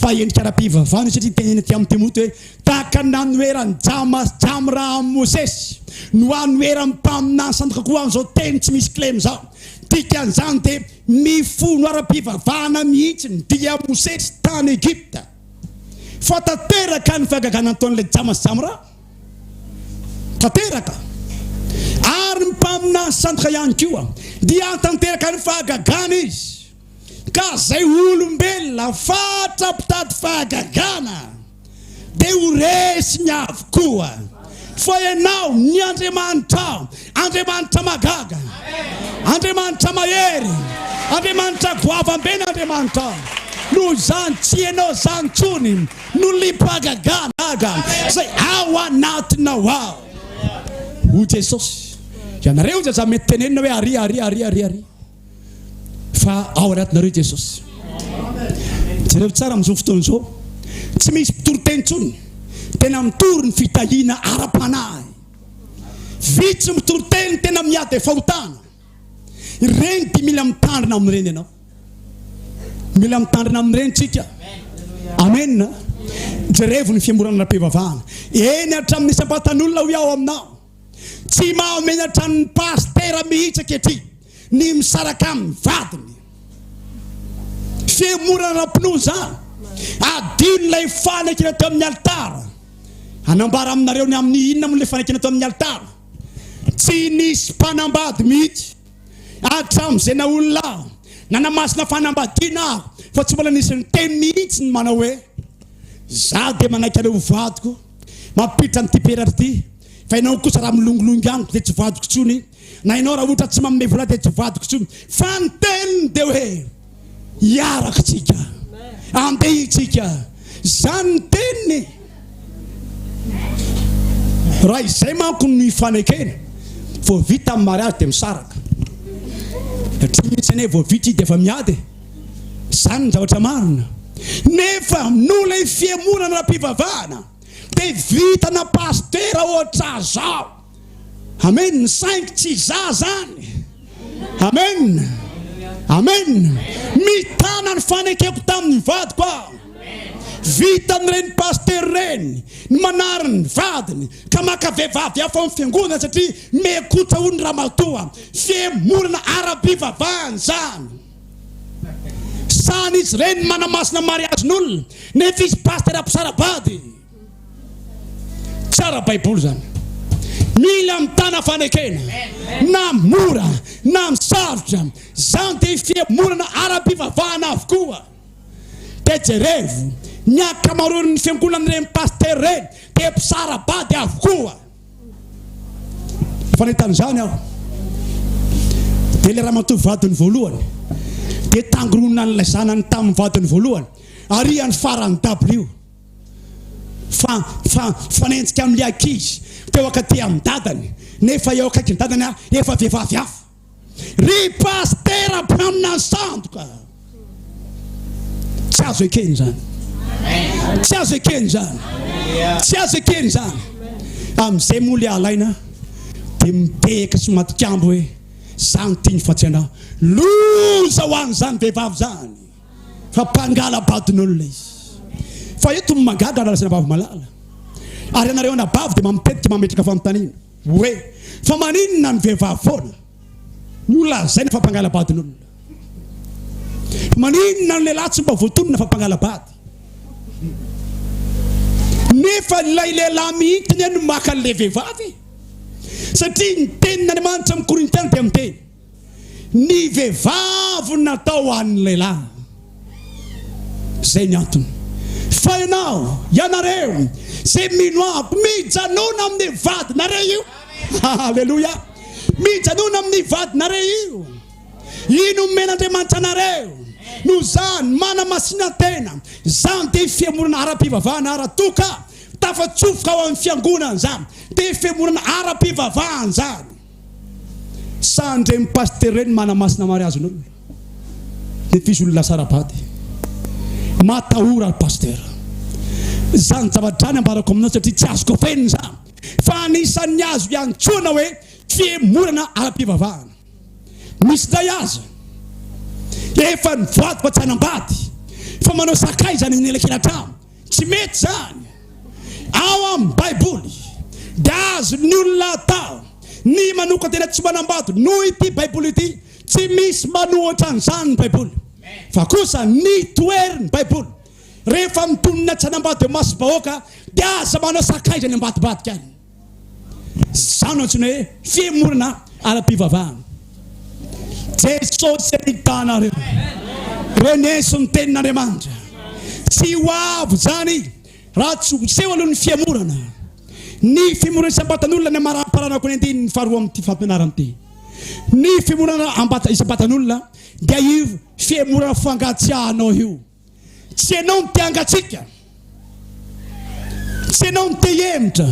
fa endrika ara-pivavahana satria teneny aty amin'ny Timoty hoe tahaka ny nanoheran'ny Jama sy Jamra amin'ny Mosesy no hanoheran'ny mpaminany sandoka koa an'izao teny tsy misy klem izao. Dikan'izany dia Nifono ara-pivavahana mihitsy ny Dia Mosesy tany Egypta fa tanteraka ny fahagagana nataon'ilay Jamas Jamra, tanteraka, ary ny mpaminany sandoka ihany koa dia tanteraka ny fahagagana izy, ka izay olombelona fatra mpitady fahagagana. dia ho resiny avokoa fa ianao ny Andriamanitrao, Andriamanitra mahagaga, Andriamanitra mahery, Andriamanitra goavam-be ny Andriamanitrao. Noho izany, tsy ianao izany intsony no liam-pahagagana izay ao anatinao ao. Hoy Jesosy, ianareo izay izany mety tenenina hoe, Aria, aria, aria, aria, aria. fa ao anatinareo Jesosy. Jereo tsara amin'izao fotoana izao, tsy misy mpitoriteny intsony tena mitory ny fitahiana ara-panahy. Vitsy mitoriteny tena miady fahotana. Ireny dia mila mitandrina amin'ireny ianao. Mila mitandrina amin'ireny tsika. Amen. Jerevo ny fiamborana ara-pivavahana. Eny hatramin'ny isam-patan'olona hoy aho aminao. Tsy mahamenatra ny pasitera mihitsy ankehitriny ny misaraka amin'ny vadiny. Fihemorana ara-pinoana izany. Adino ilay fanekena teo amin'ny alitara. Hanambara aminareo ny amin'ny inona moa ilay fanekena teo amin'ny alitara. Tsy nisy mpanambady mihitsy hatramin'izay naha olona aho, nanamasina fanambadiana aho, fa tsy mbola nisy niteny mihitsy ny manao hoe, Izaho dia manaiky anao ho vadiko. Mampiditra an'ity peratra ity fa ianao kosa raha milongilongy amiko dia tsy vadiko intsony na ianao raha ohatra tsy manome vola dia tsy vadiko intsony fa ny teniny dia hoe hiaraka tsika andeha itsika zany ny teniny raha izay manko no ifanekena vao vita ny mariazy dia misaraka satria misy anie vao vita izy dia efa miady Izany ny zavatra marina. Nefa noho ilay fihemorana ara-pivavahana dia vitana pasitera ohatra zao. Amen. Saingy tsy za zany. Amen. Amen. Mitana ny fanekeko tamin'ny vadiko aho. Vitan'ireny pasitera ireny ny manary ny vadiny ka maka vehivavy hafa amin'ny fiangonana satria mekotsa hoy ny ramatoa. Fihemorana ara-pivavahana izany. Sahan izy ireny ny manamasina mariazy n'olona nefa izy pastera mpitsara bady. Tsara baiboly zany. Mila mitana fanekena na mora na misarotra. Zany dia fihemorana ara-pivavahana avokoa. Dia jerevo ny ankamaroan'ny fiangonan'ireny pastera ireny dia mpitsara bady avokoa. Efa nahita an'izany aho. Dia ilay ramatoa vadiny voalohany dia tangoronina an'ilay zanany tamin'ny vadiny voalohany ary any farany dabilio fa fa fanenjika amin'ny ankizy teo akaty amin'ny dadany nefa eo akaiky ny dadany efa vehivavy hafa Ry Pastera mpaminany sandoka. Tsy azo ekeny zany. Tsy azo ekeny zany. Tsy azo ekeny zany. Amizay moa le alaina de mitehaka sy matikambo hoe zany tiny fa tsy anao. Loza ho an zany vehivavy zany. Fa mpangala badin'olona izy. Fa eto ny mangadra raha resena vavy malala. Ary anareo anabavy de mamitetika mametraka fanontaniana. Oe, fa maninona ny vehivavy foana no lazaina fa mpangala-badin'olona? Fa maninona ny lehilahy tsy mba voatonona fa mpangala-bady? Nefa ilay lehilahy mihitsy anie no maka an'ilay vehivavy e! Satria ny tenin'Andriamanitra amin'ny Korintiana dia miteny. Ny vehivavy natao ho an'ny lehilahy. Zay ny antony. Fa ianao, ianareo, zay mino amiko, mijanona amin'ny vadinareo io. Aleloia. Mijanona amin'ny vadinareo io. Io nomen'Andriamanitra anareo. No zany, manamasina tena. Zany dia fihemorana ara-pivavahana ara-toka. Tafatsofoka ao amin'ny fiangonana zany. Dia fihemorana ara-pivavahana zany. Sa andreny pasitera ireny manamasina mariazy ny olona? Dia f'izy olona lasa ara-bady. Matahora ry pasitera. Izany zavatra izany ambarako aminao satria tsy azoko afenina izany. Fa anisan'ny azo iantsoana hoe fihemorana ara-pivavahana. Misy indray aza efa nivady fa tsy hanambady fa manao sakaiza any anelakelan-trano. Tsy mety izany. Ao amin'ny Baiboly, dia azon'ny olona atao ny manokan-tena tsy manambady noho ity Baiboly ity. Tsy misy manohitra an'izany ny Baiboly. Fa kosa ny toherin'ny Baiboly, Rehefa mitonona tsy hanambady eo masom-bahoaka, dia aza manao sakaiza any ambadibadika any. Izany no antsoina hoe fihemorana ara-pivavahana. Jesosy anitahanareo. Reneso ny tenin'Andriamanitra. Tsy ho avy izany raha tsy ho seho aloha ny fihemorana. Ny fihemorana isam-batan'olona ny amaramparanako ny andininy faharoa amin'ity fampianarana ity. Ny fihemorana isam-batan'olona dia io fihemorana fangatsiahanao io. Tsy ianao no te hangatsiaka, tsy ianao no te hihemotra,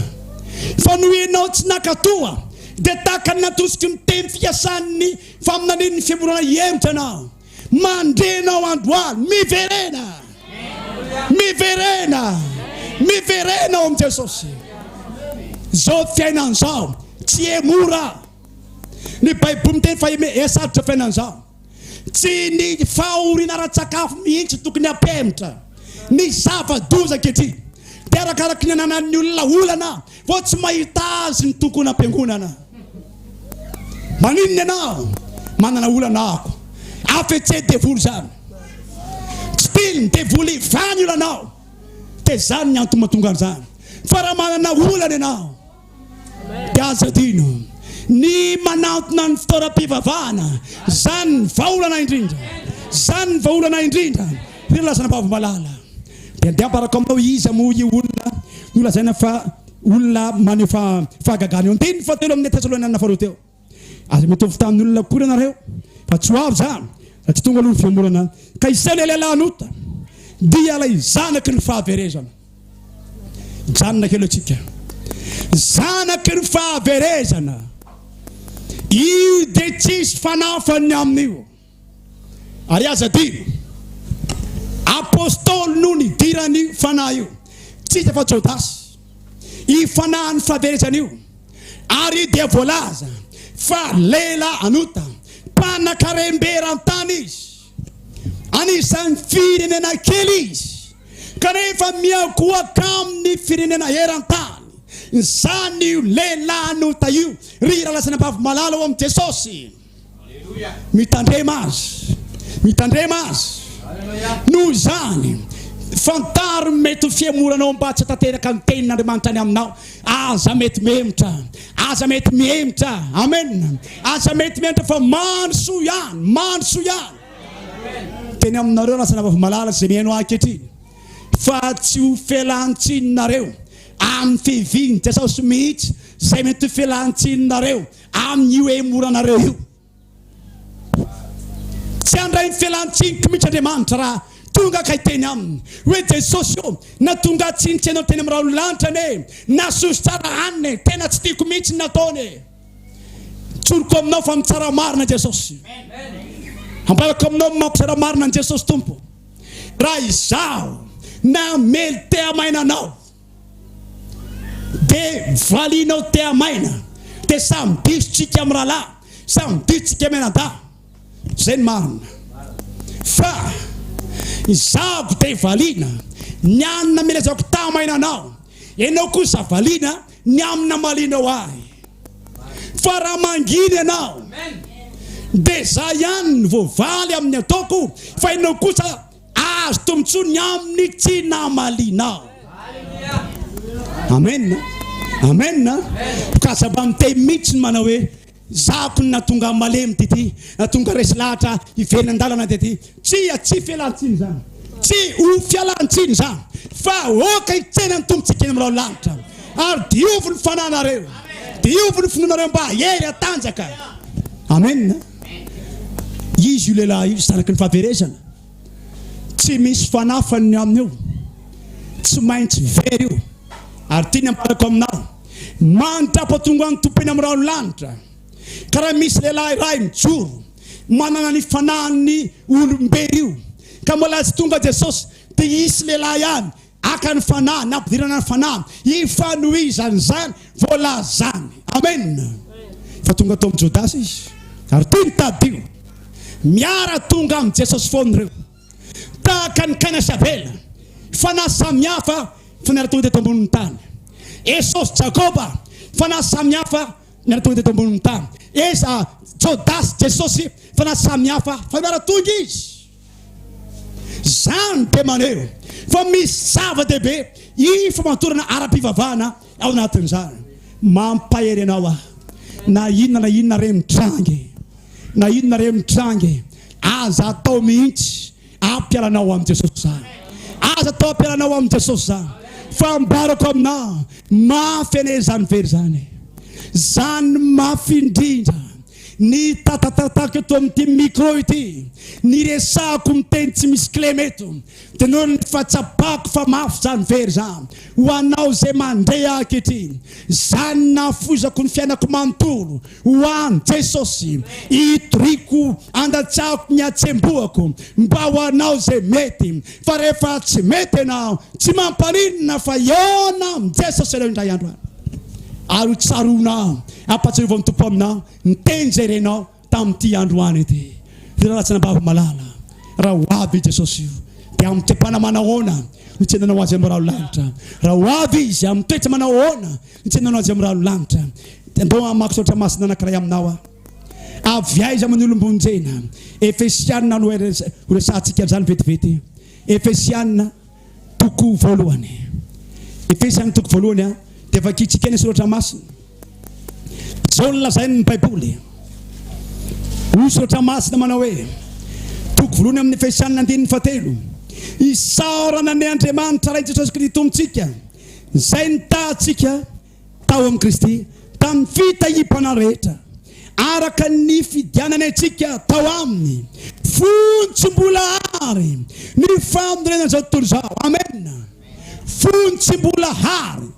fa noho ianao tsy naka toa, dia tahaka ny natosiky ny teny fikasan'ny faminanian'ny fihemorana hihemotra ianao. Mandre ianao andro alina. Miverena! Miverena! Miverena ao amin'i Jesosy. Izao fiainana izao tsy hemora. Ny Baiboly miteny fa esarotra fiainana izao. Tsy ny fahoriana ara-tsakafo mihitsy no tokony hampihemotra ny zava-doza ankehitriny, dia arakaraky ny ananan'ny olona olana vao tsy mahita azy ny tokonam-piangonana. Maninona ianao manana olana ako? Afetse devoly izany. Tsy tian'ny devoly hivaha ny olanao, dia izany ny antony mahatonga an'izany. Fa raha manana olana ianao, Dia aza adino ny manantona ny fitaoram-pivavahana. Izany ny vahaolana indrindra. Izany ny vahaolana indrindra, ry razanabavy malala. Dia ndeha ambarako aminao hoe iza moa io olona nolazaina fa olona maneho fahagagana io. Andininy fahatelo amin'ny Tesalonianina Faharoa teo. Aza mitovy tamin' olona akory ianareo, fa tsy ho avy izany, satria tonga aloha ny fihemorana, ka isaina ilay lahnota, dia ilay zanaky ny fahaverezana. Hijanona kely eo isika. Zanaky ny fahaverezana. Io dia tsisy fanafany ny amin' io. Ary aza adino, Apostoly no nidiran'io fanahy io, tsy iza fa Jodasy. Io fanahin'ny fahaverezana io, ary dia voalaza fa lela an'ota, mpanan-karem-be eran-tany izy. Anisan'ny firenena kely izy, kanefa miankohoka amin'ny firenena eran-tany. Izany io lela an'ota io, ry ralazanabavy malala ao amin'i Jesosy. Mitandrema azy. Mitandrema azy. Noho izany, fantaro ny mety ho fihemoranao mba tsy hatanteraka ny tenin'Andriamanitra any aminao. Aza mety mihemotra. Aza mety mihemotra. Amen. Aza mety mihemotra fa mandry soa ihany. Mandry soa ihany. Teny aminareo lasa navavy malala izay mihaino ahy ankehitriny. Fa tsy ho felan-tsininareo amin'ny fivihin-jasaosy mihitsy izay mety ho felan-tsininareo Amin'io hemoranareo io. Tsy handray ny fialan-tsiny komity Andriamanitra raha tonga ka hiteny aminy hoe Jesosy ô, na tonga tsy nitsy anao teny amin'ny rahon'ny lanitra anie, na soso tsara hanina e, tena tsy tiako mihitsy ny nataony e. Tsoriko aminao fa mitsara marina Jesosy. Ambarako aminao ny mampitsara marina an'i Jesosy Tompo. Raha izaho namely te-hamaina anao, de valianao tea maina de samy diso tsika miralahy samy diso tsika mianadahy zay ny marina fa izako de valiana ny anina milezako tamaina anao enao kosa valiana ny amina malinao ahy fa raha mangina ianao de za ihany voavaly amin'ny ataoko fa enao kosa Azo tombotsoany aminy tsy namaliana. Amen. Amen. Mikatsaba miteny mihitsy ny manao hoe zako ny natonga malemy tity, natonga resy lahatra hiverina an-dalana tety. Tsia, tsy fialantsiny zany. Tsy ho fialantsiny zany. Fa oka hitsena ny tompontsika eny amin'ireo lanitra. Ary diovy ny fananareo. Diovy ny finoanareo mba hery hatanjaka. Amen. Izy io lehilahy io zanaky ny fahaverezana. Tsy misy fanafany ny aminy io. Tsy maintsy very io. Ary ty ny ambarako aminao. Mandrapa tonga ny Tompo eny amin'ny rahon'ny lanitra. Ka raha misy lehilahy iray mijoro manana ny fanahin'ny olom-bery io. Ka mbola tsy tonga Jesosy. Dia hisy lehilahy ihany Haka ny fanahy, na ampidirana ny fanahy, hifanohizan'izany voalazany. Amen. Efa tonga tao amin'ny Jodasy izy, ary ity ny tadidio, miara tonga amin'i Jesosy foana ireo, tahaka ny Kaina sy Abela, fanahy samihafa fa miara tonga teto ambonin'ny tany. Esao sy Jakoba, fanahy samihafa miara tonga teto ambonin'ny tany. Esa, Jodasy, Jesosy, fanahy samihafa fa miara tonga izy. Izany dia maneho fa misy zava-dehibe ifamadorana ara-pivavahana ao anatin'izany. Mampahery anao aho. Na inona na inona re mitrange, na inona re mitrange, aza atao mihitsy ampialanao amin'i Jesosy izany. Aza atao ampialanao amin'i Jesosy izany. Fa ambarako aminao, mafy anie izany very izany. Izany mafy indrindra. Ny tatatatako eto amin'ity micro ity, ny resahako miteny tsy misy kilema eto, dia noho ny fa tsapako fa mafy izany very za, ho anao izay mandre ahy ankehitriny, izany nahafoizako ny fiainako manontolo ho an'i Jesosy, itoriako, andatsahako ny hatsembohako mba ho anao izay mety, Fa rehefa tsy mety ianao, tsy mampaninona fa hihaona amin'i Jesosy ianao indray andro any. Ary ho tsaroanao, hampahatsiarovany Tompo aminao ny teny izay renao tamin'ity androany ity. Ry Rahalahy sy Anabavy malala, raha ho avy i Jesosy io, dia amin'ny toe-panahy manahoana no tsy hiadananao Azy amin'ny rahalahy lalitra? Raha ho avy Izy, amin'ny toe-tsa manao ahoana Nitsenanao azy amin'ny rano lanitra dia andao hamaky saotra masina anankiray aminao aho. Avy aiza moa ny olom-bonjena? Efesiana no horesahantsika an'izany vetivety. Efesiana toko voalohany. Efesiana toko voalohany a, dia vakintsika ny soratra masina. Izao no lazain'ny Baiboly. Hoy soratra masina manao hoe, toko voalohany amin'ny Efesiana andininy fahatelo, isaorana ny Andriamanitra Rain'i Jesosy Kristy Tompontsika. Izay nitahantsika tao amin'i Kristy tamin'ny fitahiam-panahy rehetra, araka ny nifidianany antsika tao aminy, fony tsy mbola àry ny fanorenan'izao tontolo izao. Amena. Fony tsy mbola àry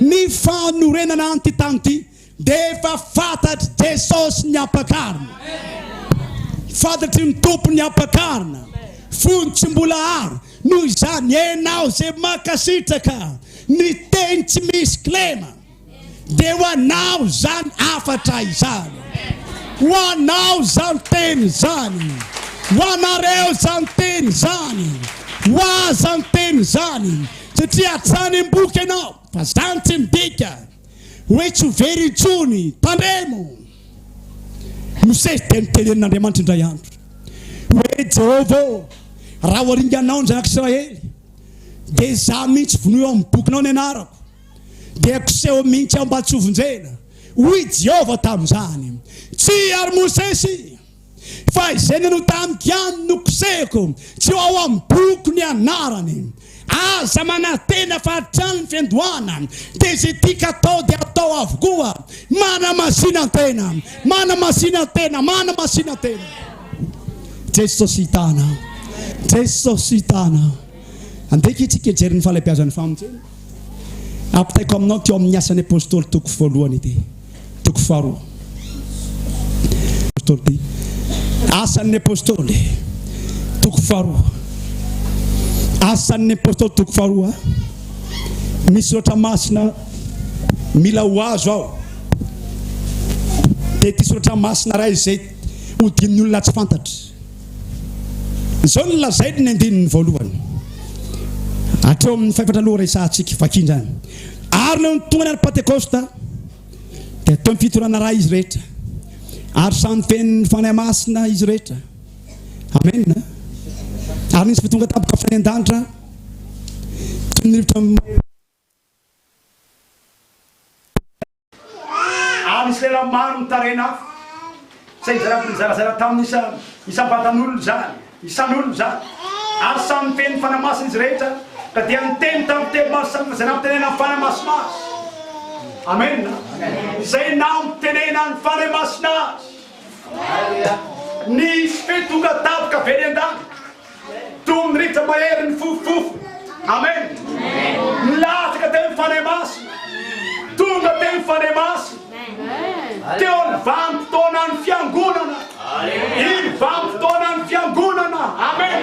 ny fanorenana an'ity tany ity. Dia efa fantatr'i Jesosy ny ampakarina. Fantatry ny Tompo ny ampakarina. Fony tsy mbola ary. Noho izany, ianao izay mankasitraka ny teny tsy misy kilema, dia ho anao izany hafatra izany. Ho anao izany teny izany. Ho anareo izany teny izany. Ho ahy izany teny izany. Satria hatrany am-boky ianao, fa izany tsy midika. hoe tsy ho very intsony. Tandremo! Mosesy dia notenenin'Andriamanitra indray andro hoe, Jehovah ô, raha ho aringanao ny zanak'Israely, dia izaho mihitsy vonoy ao amin'ny bokinao ny anarako, dia koseho mihitsy aho mba tsy hovonjena. Hoy Jehovah tamin'izany, Tsia, ry Mosesy! Fa izay nanao tamiko ihany no kosehiko, tsy ho ao amin'ny boky ny anarany. Aza manantena fa hatrany ny fiandohana, dia izay tiako hatao dia atao avokoa. Manamasinantena, manamasinantena, manamasinantena. Jesosy hitana, Jesosy hitana. Andeha akia tsika hijery ny fahalebiazan'ny famonjena. Ampitaiko aminao teo amin'ny Asan'ny Apôstôly toko voalohany ity, toko faharoa. Apôstôly ity. Asan'ny Apôstôly toko faharoa. Asan'ny Apôstôly toko faharoa. Misy loatra masina mila ho azo ao. Dia ity soratra masina iray izay hodian'ny olona tsy fantatra. Izao no lazain'ny andininy voalohany, hatreo amin'ny faefatra aloha resahantsika, vakia indray. Ary leo nitonga ny andro Pantekosta, dia teo am-pitorana iray izy rehetra, ary samy feno ny Fanahy Masina izy rehetra. Amen. Ary nisy votonga tampoka avy tany an-danitra, toy ny rivotra Ary nisy lehilahy maro mitaraina afo, izay nizara nizarazara tamin' ny isam-batan' olona izany, isan' olona izany, ary samy nifehy ny fanahy masina izy rehetra, ka dia niteny tamin' ny teny maro samihafa izay nampitenenan' ny fanahy masina azy. Amena. Izay nampitenenan' ny fanahy masina azy. Nisy fe tonga tavika avy any an-danitra. Toy ny rivotra mahery nifofofofo. Amen. Nilatsaka teo ny fanahy masina. Tonga teo ny fanahy masina. Teo ny vanim-potoanan'ny fiangonana. Iny vanim-potoanan'ny fiangonana. Amen.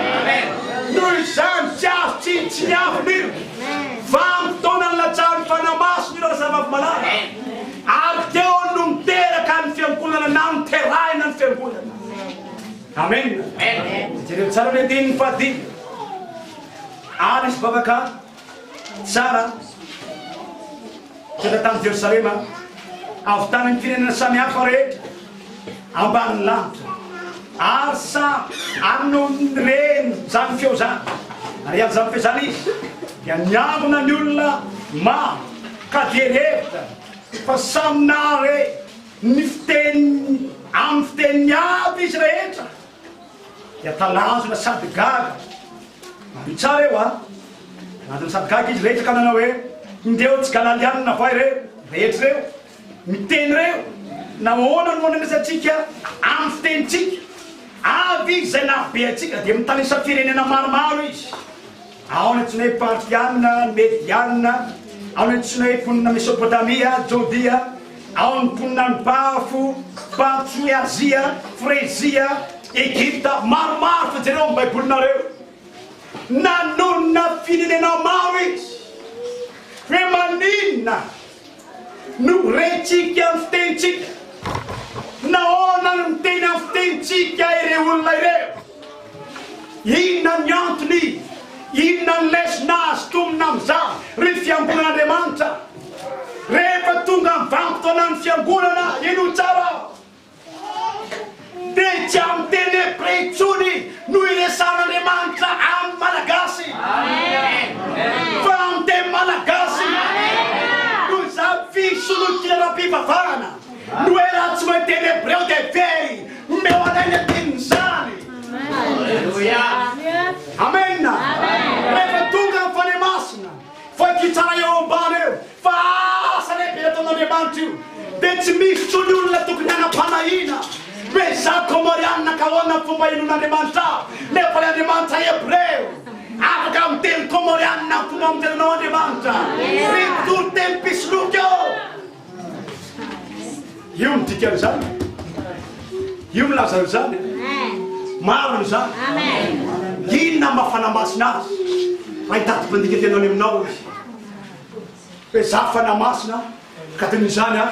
Noho izany tsy azo tsy tsy miafina io. Vanim-potoanan'ny latsahan'ny fanahy masina io razavavy malala. Ary teo no miteraka ny fiangonana na niterahina ny fiangonana. Amen! Jereo tsara ny andininy fahadimy. Ary izy vavaka tsara tonga tamin'i Jerosalema avy tany amin'ny firenena samihafa rehetra ambanin'ny lanitra ary samy anony reny zany feo zany ary an'izany feo zany izy dia niangona ny olona maro ka dia revitra fa samy nahare Ny fiteny amin'ny fiteniny aby izy rehetra dia talanjona sady gaga. Mario tsara eo an! Talanjona sady gaga izy rehetra ka nanao hoe, Indreo tsigalalianina vao ireo rehetra ireo miteny ireo, nahoana no andraisantsika amin'ny fitenintsika avy izay nahabe antsika? Dia mitanisa firenena maromaro izy. Ao ny Tsinay Partiana, ny Mediana, ao ny Tsinay mponina Mesopotamia, Jodia, ao ny mponina any Pafo, Patso, ny Azia, Frezia, Egypta, maromaro fa jereo amin'ny Baibolinareo. Nanonona firenena maro izy. Hoe maninona? No rentsika amin'ny fitenintsika. Nahoana no miteny amin'ny fitenintsika ireo olona ireo? Inona ny antony? Inona ny lesona azo tomona amin'izany, ry fiangonan'Andriamanitra? Rehefa tonga amin'ny vanim-potoanan'ny fiangonana, henoy tsara, Dia tsy amin'ny teny hebreo intsony no iresahan'Andriamanitra amin'ny Malagasy fa amin'ny teny malagasy. Noho izany, fisolokiana ara-pivavahana no hoe raha tsy mahay teny hebreo dia very, omeo anay ny andinin'izany. Amena. Rehefa tonga amin'ny Fanahy Masina. Fa ity tsara eo ambany eo fa asa lehibe ataon'Andriamanitra io dia tsy misy intsony olona tokony hanam-panahiana. Bezah Comoriana ka ahoana ny fomba hinoan'Andriamanitra ahy nefa ilay Andriamanitra Hebreo? Afaka miteny Comoriana amin'ny fomba mitenenao Andriamanitra ry mpitory teny mpisoloky ô! Io ny dikan'izany. Io milaza an'izany. Maro ny zany. Inona mba fanamasina azy? Raha hitady mpandika tena any aminao izy. Hoe za fanamasina ka teny izany a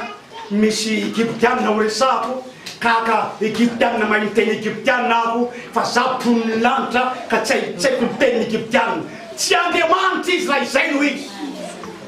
misy egyptianina ho resahako kaka egyptianina mahay miteny egyptianina aho fa za mpon'ny lanitra ka tsy haitsaiko ny tenin'ny egyptianina. Tsy Andriamanitra izy raha izay no izy.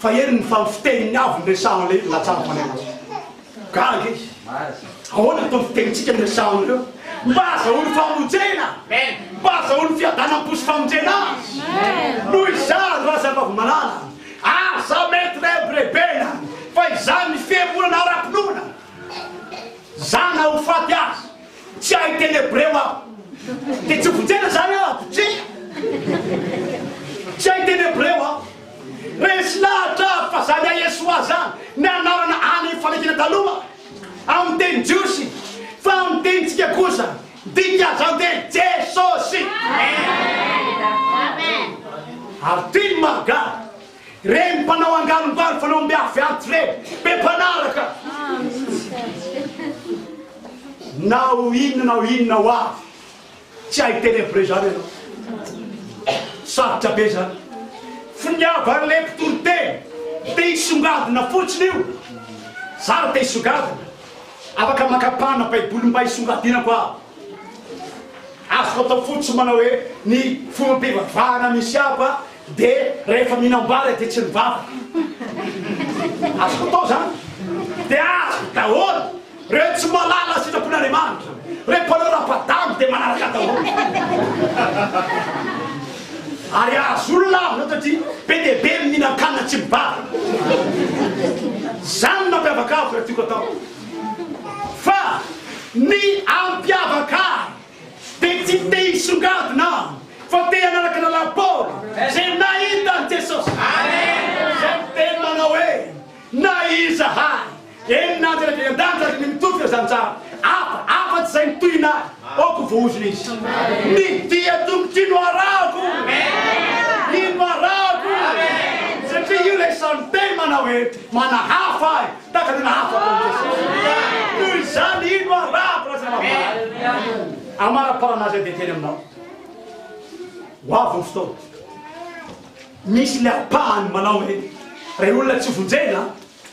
Fa eny ny fa ny fiteniny avy no resahana ilay izy raha tsara fanahy azy. Gaga izy. Ahoana ny ataon'ny fitenintsika no resahana an'ireo? Mba azahoany famonjena. Mba azahoany fiadanam-po sy famonjena azy. Noho izany, razambavy malala, aza maître rebena fa izany ny fihemorana ara-pinoana. Za na ho faty aza, tsy hahay teny hebreo aho. Dia tsy hovonjena izany aho, mpitsikina. Tsy hahay teny hebreo aho. Resy lahatra avy fa zany Yah'Yeshua zany ny anarana any amin'ny fanekena taloha amin'ny teny jiosy fa amin'ny tenintsika kosa dika zany dia Jesosy. Ary tian'i Marga reny mpanao angarongaro fanaombiaviavy reny be mpanaraka. Na ho inona na ho inona ho avy Tsy hay teny am prez zany ianao. Sarotra be zany. Finiavan'le mpitory teny te hisongadina fotsiny io. Za ra te hisongadina afaka makapana baiboly mba hisongadinako aho. Azoko atao fotsiny manao hoe ny fomba pivavahana misy afa de rehefa mihinambara de tsy mivavaka. Azoko atao zany. De azoko daholo. Reo tsy malala sitrapon Andriamanitra reo mpanao rapadango de manaraka daholo ary ahazo olona avy loatra ty be de be mihinan-kanina tsy mibary zany mampiavaka azy reo tiako atao fa ny ampiavaka de tsy te hisongadina fa te hanaraka lalana Paoly ze nahita an'i Jesosy zay miteny manao hoe na izahay Eny nanja rehefa hiandrandra ary ny mitovy ireo zanizaha hafa afa-tsy izay mitohina ahy, aoka ho voahozona izy. Ny dia tongotry no arahako, iny no arahako, satria io ilay samy miteny manao hoe, Manahafa ahy tahaka ny nahafako an'i Jesosy. Noho izany, iny no arahako, Razanabary. Amaraparana azy aho dia hiteny aminao. Ho avy ny fotoana. Misy ilay ampahany manao hoe, Ry olona tsy vonjena,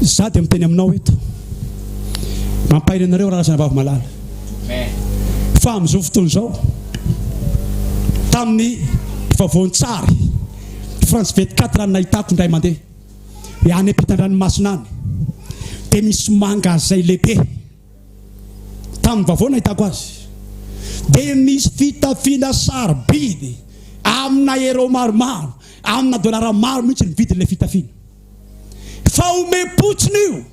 Za dia miteny aminao eto, mampahery anareo Rarasana Vavy Malala, fa amin'izao fotoana izao, tamin'ny vaovaon-tsary France 24 nahitako indray mandeha, dia any ampitan-dranomasina any, dia misy mangazay lehibe, tamin'ny vaovao nahitako azy, dia misy fitafiana sarobidy amina hero maromaro, Amina dolara maro mihitsy ny vidin'ilay fitafiana. Fahomem-potsiny io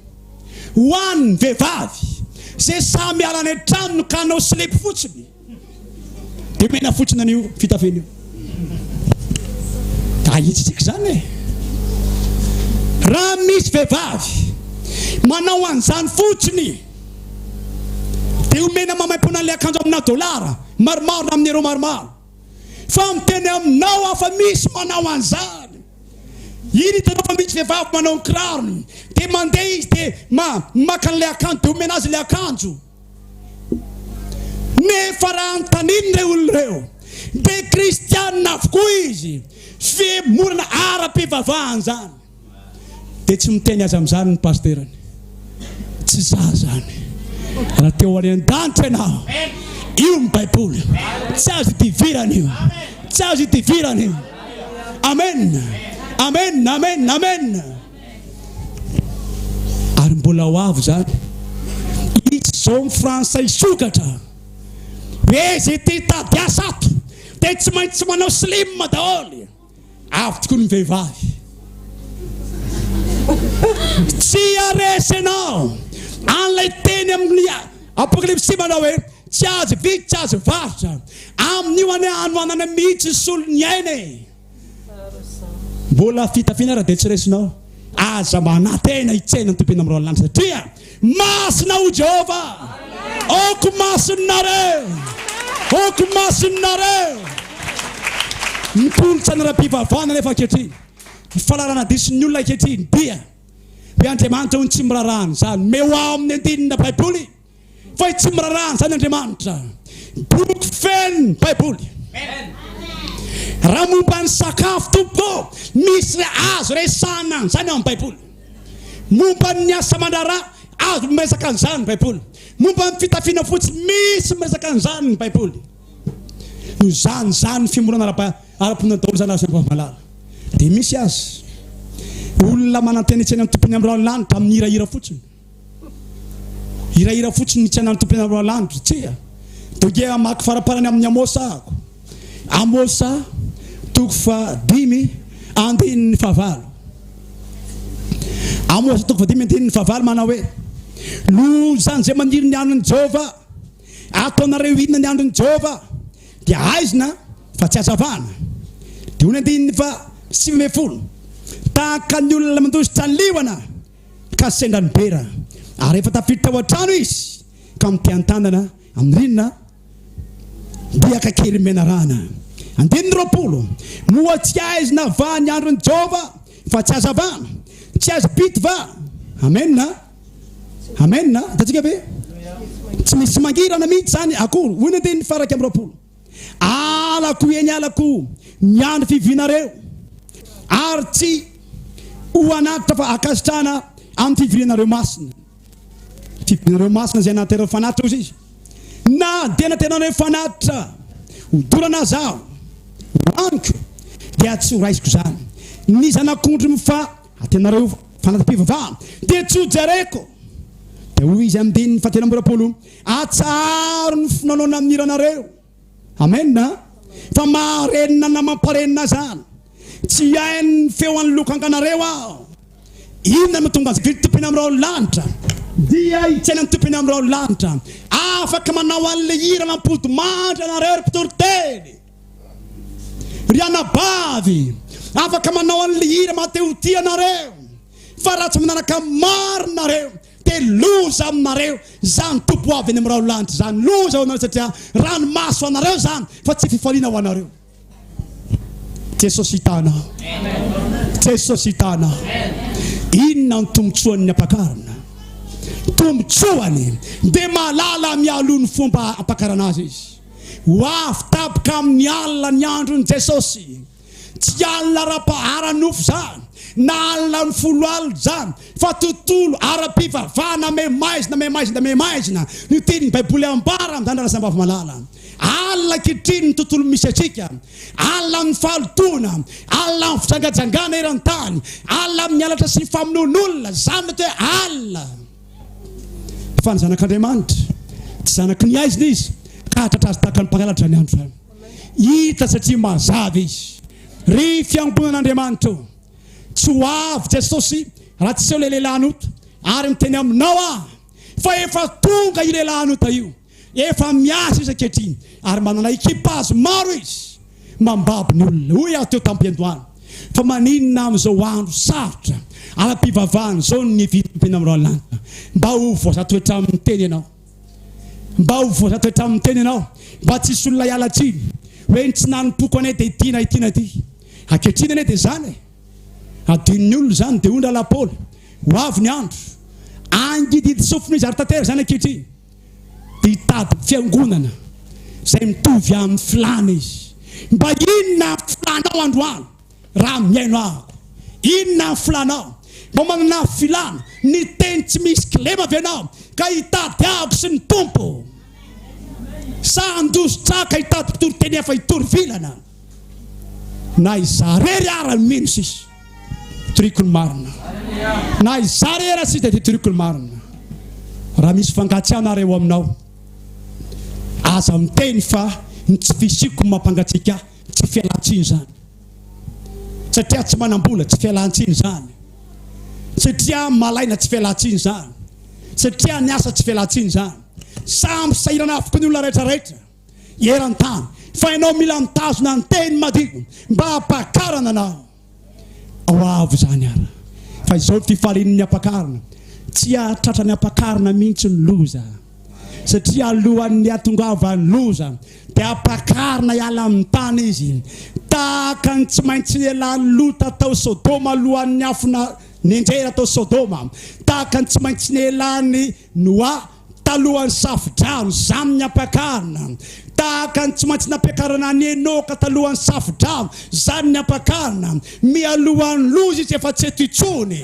ho an'ny vehivavy izay sahy miala any an-tranony ka hanao slip fotsiny, dia omena fotsiny an'io fitafiana io. Ahitsitsika izany e! Raha misy vehivavy manao an'izany fotsiny, dia omena maimaimpoana an'ilay akanjo amina dolara maromaro na amin'ny euro maromaro. Fa miteny aminao aho fa misy manao an'izany. Iny hitanao fa misy vehivavy manao ny kirarony, dia mandeha izy dia ma, maka an'ilay akanjo dia omena azy ilay akanjo. Nefa raha anontaniana ireo olona ireo, dia kristianina avokoa izy, fihemorana ara-pivavahana izany. Dia tsy miteny azy amin'izany ny pasterany. Tsy izaho izany. Raha te ho any an-danitra ianao, io ny Baiboly. Tsy azo idivirana io. Tsy azo idivirana io. Amen. Amen. Amen. Amen. Ary mbola ho avy izany. Izy izao ny frantsay sokatra. Hoe izay te hitady asa ato, dia tsy maintsy manao slim daholo. Avo tokoa ny vehivavy. Tsy haharesy ianao an'ilay teny amin'ny Apokalypsy manao hoe, Tsy azo vidy, tsy azo varotra. Amin'io anie hanoanana mihitsy ny solon'ny aina e! Mbola fitafiana ary dia tsy resinao. Aza manantena hitsena ny tompo eny amin'ny rahalahy, satria Masina o Jehovah! Aoka masin'Nareo! Aoka masin'Nareo! Ny kolontsaina ara-pivavahana anefa ankehitriny, ny fahalalana diso ny olona ankehitriny dia hoe Andriamanitra hono tsy miraharaha an'izany. Omeo aho amin'ny andinina Baiboly fa hoe tsy miraharaha an'izany Andriamanitra. Boky feno Baiboly. Raha momba ny sakafo, Tompoko ô, misy azo resahana an'izany ao amin'ny Baiboly. Momba ny asa aman-draharaha, azo miresaka an'izany ny Baiboly. Momba ny fitafiana fotsy, misy miresaka an'izany ny Baiboly. Izany izany ny fimorana ara-ponenana daholo izany azo ambalam-balahala. Dia misy aza olona manantena hitsena ny Tompon'ny Amiraly lanitra amin'ny hirahira fotsiny. Hirahira fotsiny ny tsy anan'ny tompoina Roalandry, tsia! Dia hamaky faraparany amin'ny Amôsa ahako. Amôsa, toko fahadimy, andininy fahavalo. Amôsa, toko fahadimy, andininy fahavalo, manao hoe, Lozan'ny izay maniry ny andron'i Jehovah. Ataonareo inona ny andron'i Jehovah? Dia haizina fa tsy hazavana. Dia hoy ny andininy fahasivy ambin'ny folo, Tahaka ny olona mandositra liona, ka sendra nibera ary efa tafiditra tao an-trano izy ka mitehan-tanana amin'ny rindrina biaka kely menarana. Andininy roapolo, Moa tsy haizina va ny andron'i Jehovah, fa tsy hazavana? Tsy azo pity va? Amena? Amena? Hitantsika ve? Tsy misy mangirana mihitsy izany akory, hoy ny andininy faha-iraika amby roapolo. Alako eny alako ny andro fivorianareo, ary tsy ho anatitra fa ankasitrahana amin'ny fivorianareo masina. Fivorianareo masina izay nahaterahako fanatitra, hoy Izy. Na dia nateranareo fanatitra ho dorana aza Aho, ho Amiko dia tsy horaisiko izany. Ny zanak'ondry mifa ateranareo fanatram-pivavahana dia tsy ho jereko. Dia hoy Izy amin'ny andininy fahatelo amby roapolo, Atsaharo ny finoanao na ny hiranareo. Amen a! Fa maharenina na mamparenina aza any. Tsy hihaino ny feo an'ny lokanganareo aho. Inona no tonga azy? Ny Tompo eny amin'ny rahon'ny lanitra. Dia hitsaina ny Tompo eny amin'ny rahon'ny lanitra. Afaka manao an'ilay hira nampody mandry ianareo ry mpitory teny. Ry anabavy, afaka manao an'ilay hira maha-te-ho-tia anareo. Fa raha tsy manaraka ny marina nareo, Dia loza aminareo izany toby ho avy eny amin'ny raholanitra izany, loza ho anareo satria ranomaso ho anareo izany fa tsy fifaliana ho anareo. Jesosy hitana. Jesosy hitana. Inona ny tombontsoan'ny ampakarana? Tombontsoany dia mahalala mialoha ny fomba ampakarana azy izy. Ho avy tapoka amin'ny alina ny andron'i Jesosy. Tsy alina ara-paharanofo izany na alina amin'ny folo alina izany fa tontolo ara-pivavahana maimaizina, maimaizina, maimaizina. Ny tenin'ny Baiboly ambara amin'izany razambavy malala. Alina ankehitriny ny tontolo misy antsika. Alina amin'ny fahalotoana, alina amin'ny fijangajangana eran-tany, alina amin'ny halatra sy ny famonoan'olona. Izany no atao hoe alina. Fa ny Zanak'Andriamanitra, tsy zanaky ny aizina izy ka hahatratra azy tahaka ny mpangalatra ny andro izany. Hita satria mazava izy. Ry fiangonan'Andriamanitra ô, tsy ho avy Jesosy raha tsy eo ilay lehilahin'ota ary miteny aminao aho fa efa tonga io lehilahin'ota io, efa miasa izy ankehitriny ary manana ekipa azy maro izy mambabo ny olona. Hoy aho teo tamim-piandohana, fa maninona amin'izao andro sarotra ara-pivavahana izao no nividy ny teny amin'ny Ralanitra mba ho voaza toetra aminy teny ianao? Mba ho voazato hatramin'ny teny ianao, mba tsy hisy olona hiala tsiny hoe ny tsy nanompoako anie dia ity na ity na ity. Ankehitriny anie dia izany e! Adinon'ny olona izany, dia hoy ny rahalahy Paoly, Ho avy ny andro, hangidihidy sofina izy, ary tantera izany ankehitriny, dia hitady fiangonana izay mitovy amin'ny filàna izy. Mba inona ny filànao androany? Raha mihaino amiko. Inona ny filanao? Mba manana filana, ny teny tsy misy kilema ve ianao ka hitady ahako sy ny Tompo? Sa handroso traka hitady mpitory teny hafa hitory vilana? Na izaho irery ara no mino sisa hitoriako ny marina. Na izaho irery ara sisa dia hitoriako ny marina. Raha misy fangatsiahana ary ao aminao, aza miteny fa ny tsy fisiako no mampangatsiaka ahy. Tsy fialantsiny izany satria tsy manam-bola, tsy fialantsiny izany satria malaina, tsy fialantsiny izany satria niasa, tsy fialantsiny izany. Samy sahirana avokoa ny olona rehetra rehetra eran-tany fa ianao mila mitazona ny teny madio mba hampakarana anao. Ao avo izany ara. Fa izao ny fifalian' ny ampakarina, tsy hahatratra ny ampakarina mihitsy ny loza, satria alohan' ny hahatongavan' ny loza dia ampakarina hiala amin' ny tany izy, tahaka ny tsy maintsy elan' i Lota tao Sodoma alohan' ny afo nenjehina tao Sodoma, tahaka ny tsy maintsy nelan' ny Noa, talohan'ny Safo-drano, Zam niampakarina, tahaka ny tsy maintsy nampiakarana an'i Enoka talohan'ny Safo-drano, Zan niampakarina, mialohan'ny loza izy efa tsy eto intsony.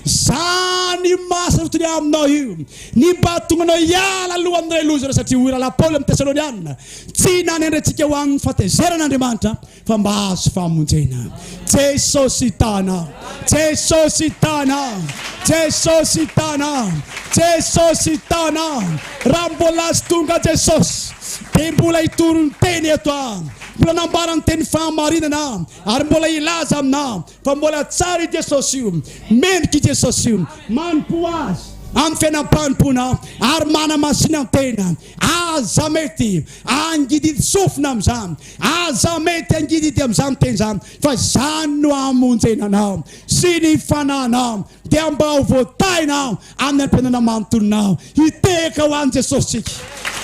Izany maha sarotiny aminao io ny mba tonganao hiala aloha amin'ilay loza iray satria hoy Rahalahy Paoly amin'ny Tesalonianina, Tsy nanendry antsika ho amin'ny fahatezeran'Andriamanitra fa mba hahazo famonjena. Jesosy tana, Jesosy tana, Jesosy tana, Jesosy tana. Raha mbola azy tonga Jesosy, dia mbola hitory ny teny eto aho. Mbola nambara ny teny fahamarinana aho, ary mbola hilaza aminao fa mbola tsara i Jesosy io, mendrika i Jesosy io, manompo azy amin'ny fiainam-panompoana ary manamasinantena. Aza mety hangididy sofina amin'izany, aza mety hangididy amin'izany teny izany, fa izany no hamonjena anao sy ny fanahinao, dia mba ho voataina amin'ny antenaina manontolonao. Hitehaka ho an'i Jesosy tsika,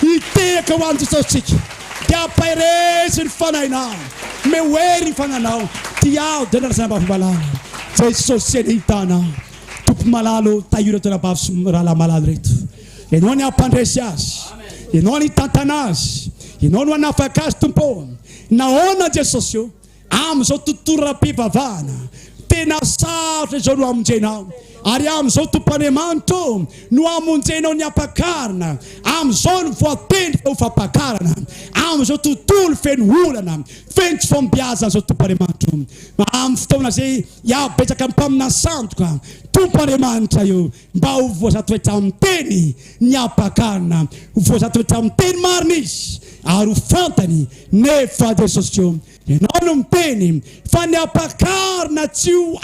hitehaka ho an'i Jesosy tsika, dia hampaherezy ny fanahinao, me ho hery ny fananao, dia ao dia andrasana mba vomalala. Jesosy anie hita anao. Tompo malalo, tahiry an-toera-bavy sy rahalahy malalo ireto. Ianao ny hampandresy azy. Ianao ny hitantana azy. Ianao no hanafaka azy, Tompo ô. Nahoana, Jesosy ô? Amin'izao tontolonam-pivavahana tena sarotra izao no hamonjenao. Ary amin'izao, Tompo Andriamanitra ô, no hamonjenao ny hampakarina. Amin'izao no voatendry fa ho fampakarana. Amin'izao tontolo feno olana, feno tsy fahombiazana izao, Tompo Andriamanitra ô. Amin'ny fotoana izay hihabetsaka ny mpaminany sandoka, Tompo Andriamanitra ô, Mba ho voazatoetra amin'ny teny ny ampakana, ho voazatoetra amin'ny teny marina izy ary ho fantany nefa Jesosy koa Ianao no miteny fa ny ampakarina tsy ho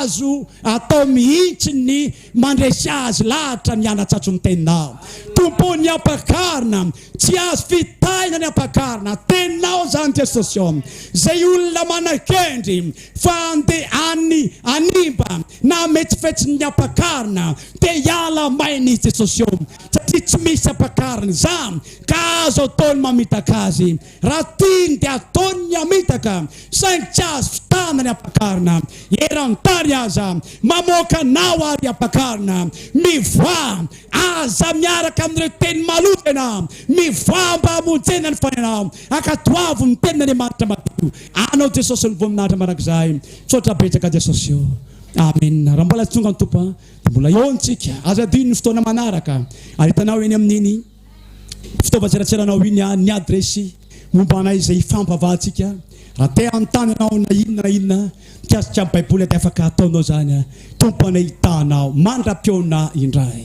azo atao mihitsy ny mandresy azy lahatra ny hanatsatso ny teninao Tompo ny ampakarina tsy azo fitahina ny ampakarina Teninao izany Jesosy ô Izay olona manakendry fa handeha any hanimba na hametsifetsy ny ampakarina dia hiala maina i Jesosy eo satria tsy misy ampakarina izany ka azo atao ny mamitaka azy raha tiany dia ataony ny hamitaka saingy tsy azo fitana ny ampakarina eran-tany aza mamoaka anao ary ampakarina mivoaha aza miaraka amin'ireo teny maloto ianao mivoaha mba hamonjena ny fanenao ankatoavo ny tenin'Andriamanitra madio Anao Jesosy no voninahitra mandrakizay tsotra betsaka Jesosy o Amena raha mbola tsy tonga ny Tompo a dia mbola eo ny tsika aza adino ny fotoana manaraka ary hitanao eny amin'iny fitaovan-tseratseranao iny a ny adiresy momba anay izay hifampavahantsika raha te hanontany anao na inona na inona mikasika ny Baiboly dia afaka ataonao izany a Tompo anay hitanao mandra-pihaona indray